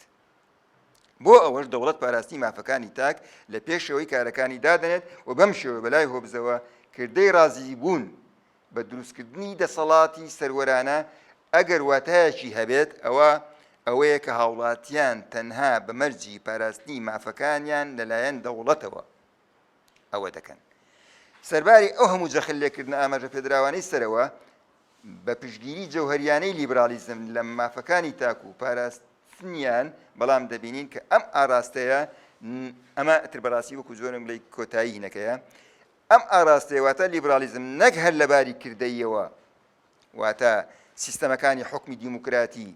بۆ ئەوەش دەوڵەت پاراستنی مافەکانی تاک لە پێشەوەی کارەکانی دادنێت و بەم شێوە بەلای هۆبزەوە کردەی ڕازیی بوون بە دروستکردنی دەسەڵاتی سەروەرانە ئەگەر واتایەکی هەبێت ئەوە ئەوەیە کە هاوڵاتیان تەنها بە مەرجی پاراستنی مافەکانیان لەلایەن دەوڵەتەوە ئەوە دەکەن. سەرباری ئەو هەموو جەخت لێکردنە ئاماژەپێدراوانەی سەرەوە، بە پشتگیری جەوهەرییانەی لیبراڵیزم لە مافەکانی تاک و پاراست نیان بەڵام دەبینین کە ئەم ئاراستەیە ئەمە ئتر بەڕاستی وەکو جۆرم بڵی کۆتایی هینەکەیە ئەم ئاراستەیە واتە لیبرالیزم نەک هەر لەباری کردەیەوە واتە سیستەمەکانی حکمی دیموکراتی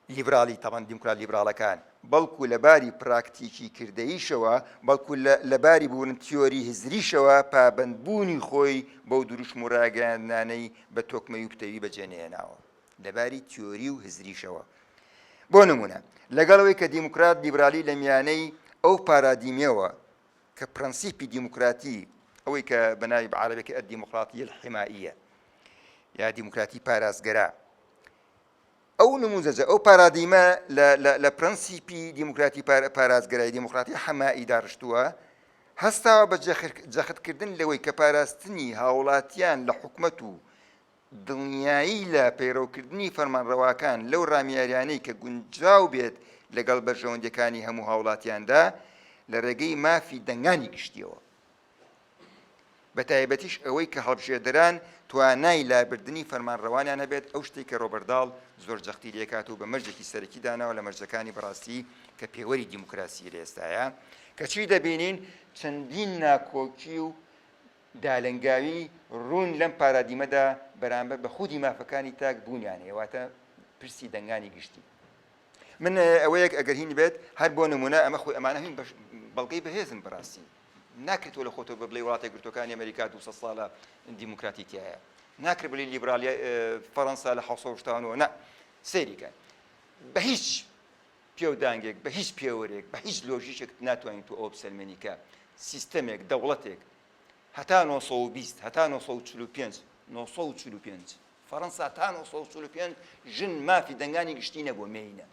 لیبراڵی تاڵان دیموکرات لیبراڵەکان بەڵکو لە باری پراکتیکی کردەییشەوە بەڵکو لە باری بوون تیۆری هزریشەوە پابەندبوونی خۆی بەو دروشم و ڕاگەیاندنانەی بە تۆکمەی و پتەوی بەجێنێناوە لەباری تیۆری و هزریشەوە بۆ نمونە لەگەڵەوەی کە دیموکرات لیبرالی لە میانەی ئەو پارادیمەوە کە پرەنسیپی دیموکراتی ئەوەی کە بەناوی بە عربەکە ئە دیموکراتی الحمائیە یا دیموکراتی پاراستگەرا ئەو نموزەجە ئەو پارادیمە لە پرەنسیپی دیموکراتی پارازگەرای دیموکراتی حەمایی داڕشتووە هەستاوە بە جەختکردن لەوەی کە پاراستنی هاوڵاتیان لە حکومەت و دڵنیایی لە پەیڕەوکردنی فەرمانڕەواکان لەو ڕامیاریانەی کە گونجاو بێت لەگەڵ بەرژەوەندەکانی هەموو هاوڵاتیاندا لە ڕێگەی مافی دەنگانی گشتیەوە بە تایبەتیش ئەوەی کە هەڵبژێردران توانای لابردنی فەرمانڕەوانیان هەبێت، ئەو شتەی کە رۆبەرت داڵ زۆر جەختی لێکات و بە مەرجێکی سەرەکی داناوە لە مەرجەکانی بەڕاستی کە پێوەری دیموکراسی لە ئێستایە، کەچی دەبینین چەندین ناکۆکی و دالنگاوی روون لەم پارادیمەدا بەرامبەر بە خودی مافەکانی تاک بوونیان هەیە، واتە پرسی دەنگانی گشتی. من ئەوەیەک ئەگەر هین بێت، هەر بۆ نموونە ئەمە خۆی ئەمانە هین بەڵگەی بەهێزن بەڕاستی، ناکری تۆ لە خۆتەوە بە بڵێی وڵاتە گرتوەکانی ئەمریکا دوو سەد ساڵە دیموکراتی تایە ناکرێت بلی لیبرالی فەرەنسا لە حوسەشتانەوە نە سەیریکە بە هیچ پێودانگێک بە هیچ پێوەرێک بە هیچ لۆژیشێک ناتوانین تو ئەو بسەلمێنیکە سیستەمێک دەوڵەتێک هەتا 1920 هەتا 1945 1945 فەرەنسا تا 1945 ژن مافی دەنگانی گشتی نەبووە مێینە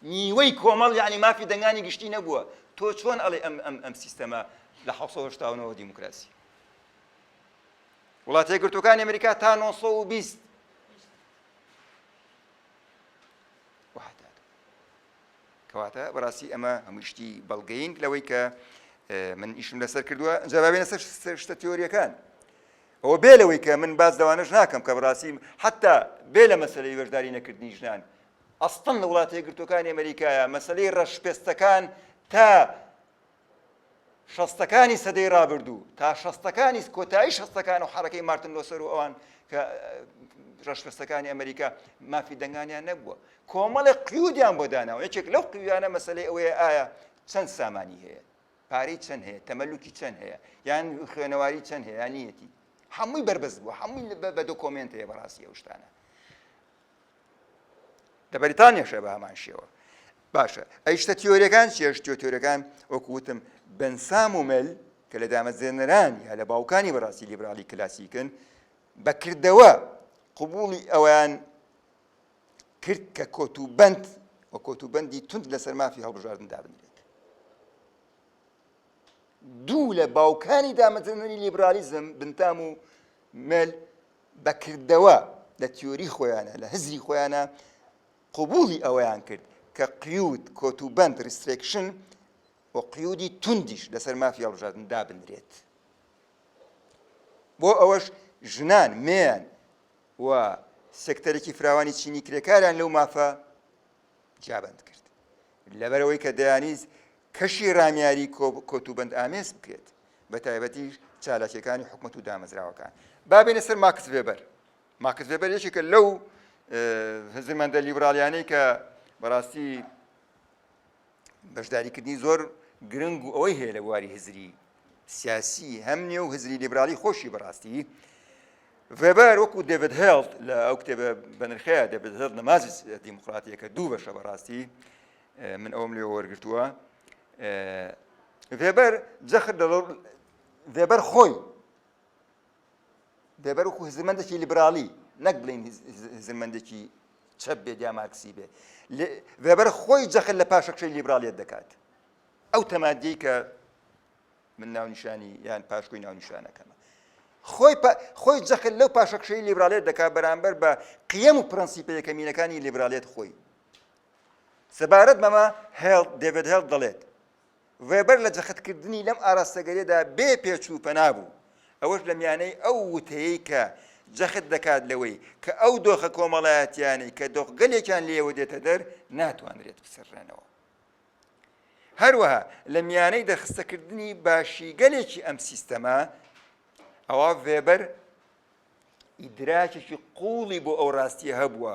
نیوەی کۆمەڵ یانی مافی دەنگانی گشتی نەبووە تۆ چۆن ئەڵێ ئەم ئەم ئەم سیستەمە لە 1970ەوە دیموکراسی وڵاتە یەکگرتوەکانی ئەمریکا تا 1920 کەواتە بەڕاستی ئەمە هەمووشتی بەڵگەین لەوەی کە من ئیشم لەسەر کردووە جوابێنە سەر شتە تیۆریەکان ئەوە بێ لەوەی کە من باس لەوانەش ناکەم کە بڕاستی حتا بێ لە مەسلەی وەشداری نەکردنی ژنان ئەستن لە وڵاتە یەکگرتوەکانی ئەمریکایە مەسلەی ڕەشپێستەکان تا شەستەکانی سەدەی ڕابردوو تا شەستەکانی کۆتایی شەستەکان و حرەکەی مارتن لۆسەر و ئەوان کە ڕشپستەکانی ئەمریکا مافی دەنگانیان نەبووە کۆمەڵی قیودیان بۆ داناوە یەکێک لەو قیویانە مەسلەی ئەوەیە ئایا چەند سامانی هەیە پارەی چەند هەیە تەمەلوکی چەند هەیە یان خوێنەواری چەند هەیە نیەتی هەمووی بەربەست بووە هەمووی بە دۆکۆمنت هەیە بەڕاستی ئەو شتانە لە بەریتانیاشە بە هەمان شێوە باشە ئەی شتە تیۆریەکان چێشتۆ تۆرەکان وەکوتم بنسام و مل کە لە دامەزێنەران یا لە باوکانی بەڕاستی لیبرالی کلاسیکن بەکردەوە قوبولی ئەویان کرد کە کۆتوبەند و کۆتوبەندی توند لەسەر مافی هەڵبژاردن دابنرێت. دوو لە باوکانی دامەزرێنەری لیبرالیزم بنتام و مێل بەکردەوە لە تیۆری خۆیانە لە هزری خۆیانە قوبولی ئەوەیان کرد کە قیود کۆتوبەند ریسترێکشن و قیودی توندیش لەسەر مافی هەڵبژاردن دابنرێت. بۆ ئەوەش ژنان مێیان و سێکتەرێکی فراوانی چینی کرێکاریان لەو مافە جیابەند کرد لەبەرەوەی کە دەیانیز کەشی رامیاری کۆتوبند ئامێز بکرێت بە تایبەتی چالاکیەکانی حکومت و دامەزراوەکان بابێنە سەر ماکس وێبەر ماکس وێبەر یەکێکە لەو هزرمەندە لیبرالیانەی کە بەڕاستی بەشداریکردنی زۆر گرنگ و ئەوەی هەیە لە بواری هزری سیاسی هەم نێو هزری لیبرالی خۆشی بەڕاستی ڤێبەر وەکو دەبێت هێڵت لە ئەو کتێبە بەنرخەیە دەبێت هێڵ نەمازی دیموکراتیەکە دوو بەشە بەڕاستی من ئەوم لێ وەرگتووە ڤێبەر جەخت دەڵ ڤێبەر خۆی بێ بەر وەکو هزرمەندێکی لیبراڵی نەک بڵین هزرمەندێکی چەپ بێت یا مارکسی بێ وێبەر خۆی جەخت لە پاشەکشەی لیبرالیت دەکات ئەو تەمادی کە من ناونیشانی یان پاشکۆی ناونیشانەکەمە خۆی خۆی جەخت لەو پاشەکشەی لیبرالیت دەکات بەرامبەر بە قیم و پرەنسیپە یەکەمینەکانی لیبرالیت خۆی سەبارەت بەمە هێڵ دەبێت هێڵ دەڵێت ڤێبەر لە جەختکردنی لەم ئاراستەگەلێدا بێ پێچ و پەنا بوو، ئەوەش لە میانەی ئەو وتەیەی کە جەخت دەکات لەوەی کە ئەو دۆخە کۆمەڵایەتییانەی کە دۆخگەلێکیان لێوە دێتە دەر ناتوانرێت بسڕرێنەوە. هەروەها لە میانەی دەرخستەکردنی باشیگەلێکی ئەم سیستەمە، ئەوا ڤێبەر ئیدراکێکی قووڵی بۆ ئەو ڕاستییە هەبووە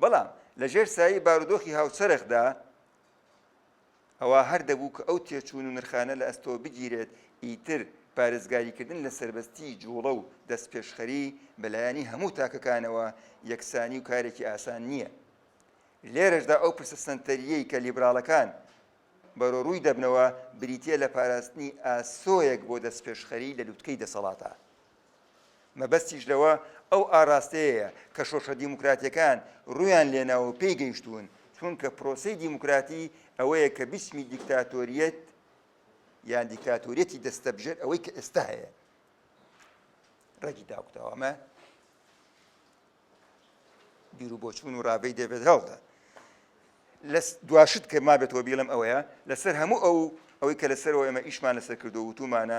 بەڵام لە ژێر سایەی بارودۆخی هاوچەرخدا ئەوا هەر دەبوو کە ئەو تێچوون و نرخانە لە ئەستۆ بگیرێت، ئیتر پارێزگاریکردن لە سەربەستیی جووڵە و دەستپێشخەری بە لایەنی هەموو تاکەکانەوە یەکسانی و کارێکی ئاسان نییە. لێرەشدا ئەو پرسە سەنتەرییەی کە لیبراڵەکان بەرەوڕووی دەبنەوە، بریتییە لە پاراستنی ئاسۆیەک بۆ دەستپێشخەری لە لووتکەی دەسەڵاتە. مەبەستیش لەوە ئەو ئاراستەیەیە کە شۆرشە دیموکراتییەکان روویان لێناوە و پێی گەیشتوون، چونکە پرۆسەی دیموکراتی ئەوەیە کە بیچمی دیکتاتۆرییەت یان دیکتاتۆرییەتی دەستەبژێر ئەوەی کە ئێستا هەیە رەگی داکوتاوە. ئەمە. بیروبۆچوون و ڕاڤەی دەڤێد هەڵتە. لە دوا شت کە مابێت و بیڵێم ئەوەیە، لە سەر هەموو ئەو ئەوەی کە لە سەرەوە ئێمە ئیشمان لە سەر کردووە و وتوومانە،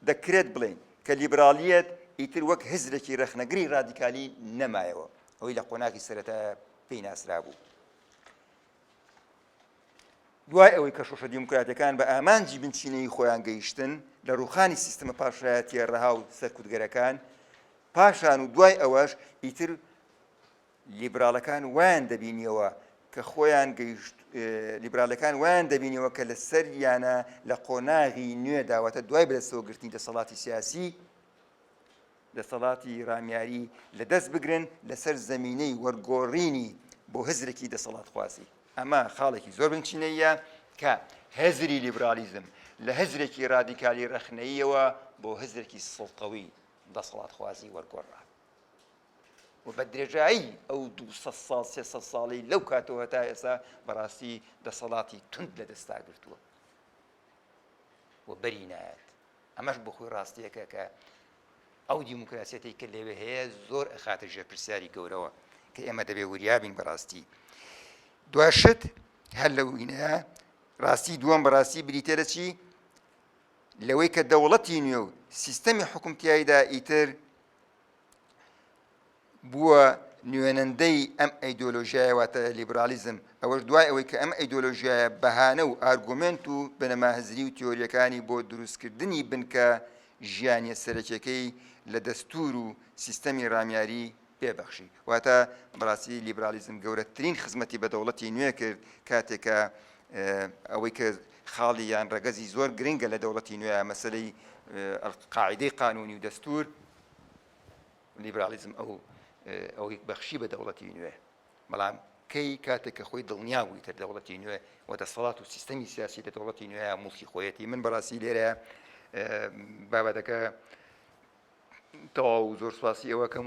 دەکرێت بڵێین کە لیبراڵییەت ئیتر وەک هزرێکی ڕەخنەگری ڕادیکالی نەمایەوە، ئەوەی لە قۆناغی سەرەتایە پێی ناسرابوو. دوای ئەوەی کە شۆشە دیموکراتەکان بە ئامانجی بنچینەی خۆیان گەیشتن لە ڕوخانی سیستمە پاشایەتیە ڕەها و سەرکوتگەرەکان پاشان و دوای ئەوەش ئیتر لیبرالەکان وایان دەبینیەوە کە خۆیان گەیشت لیبرالەکان وایان دەبینەوە کە لە سەر یانە لە قۆناغی نوێ داواتە دوای بەدەستەوە گرتنی دەسەڵاتی سیاسی دەسەڵاتی رامیاری لەدەست بگرن لەسەر زەمینەی وەرگۆڕینی بۆ هزرێکی دەسەڵاتخوازی. ئەمە خاڵێکی زۆر بنچینەییە کە هزری لیبراڵیزم لە هزرێکی رادیکالی رەخنەییەوە بۆ هزرێکی سڵتەوی دەسەڵاتخوازی وەرگۆڕرا و بە درێژایی ئەو دوو سەد ساڵ سێ سەد ساڵەی لەو کاتەوە هەتا ئێستا بەڕاستی دەسەڵاتی توند لەدەستاگرتووە و بەری نایەت. ئەمەش بۆ خۆی ڕاستییەکە کە ئەو دیموکراسیەتەی کە لەوێ هەیە زۆر ئەخاتە ژێر پرسیاری گەورەوە کە ئێمە دەبێ وریابین بەڕاستی دواشت هەر لە وینەیە ڕاستی دووەم بەڕاستی بریتە لە چی لەوەی کە دەوڵەتی نوێ و سیستەمی حکومتیاییدا ئیتر بووە نوێنەندەی ئەم ئەیدۆلۆژیایە واتە لیبرالیزم، ئەوەش دوای ئەوەی کە ئەم ئەیدۆلۆژیایە بەهانە و ئارگومێنت و بنەما هزری و تیۆرییەکانی بۆ دروستکردنی بنکە ژیانییە سەرەکییەکەی لە دەستوور و سیستەمی ڕامیاری پێ بەخشی. واتە بەڕاستی لیبرالیزم گەورەترین خزمەتی بە دەوڵەتی نوێ کرد کاتێک کە ئەوەی کە خاڵی یان ڕەگەزی زۆر گرنگە لە دەوڵەتی نوێ مەسەلەی قاعیدەی قانوونی و دەستوور لیبراڵیزم ئەو ئەوەی بەخشی بە دەوڵەتی نوێ، بەڵام کەی کاتێک کە خۆی دڵنیا بووی تر دەوڵەتی نوێ و دەسەڵات و سیستەمی سیاسی لە دەوڵەتی نوێ موڵکی خۆیەتی من بەڕاستی لێرە بابەتەکە تەواو زۆر سواسی ئەوەکەم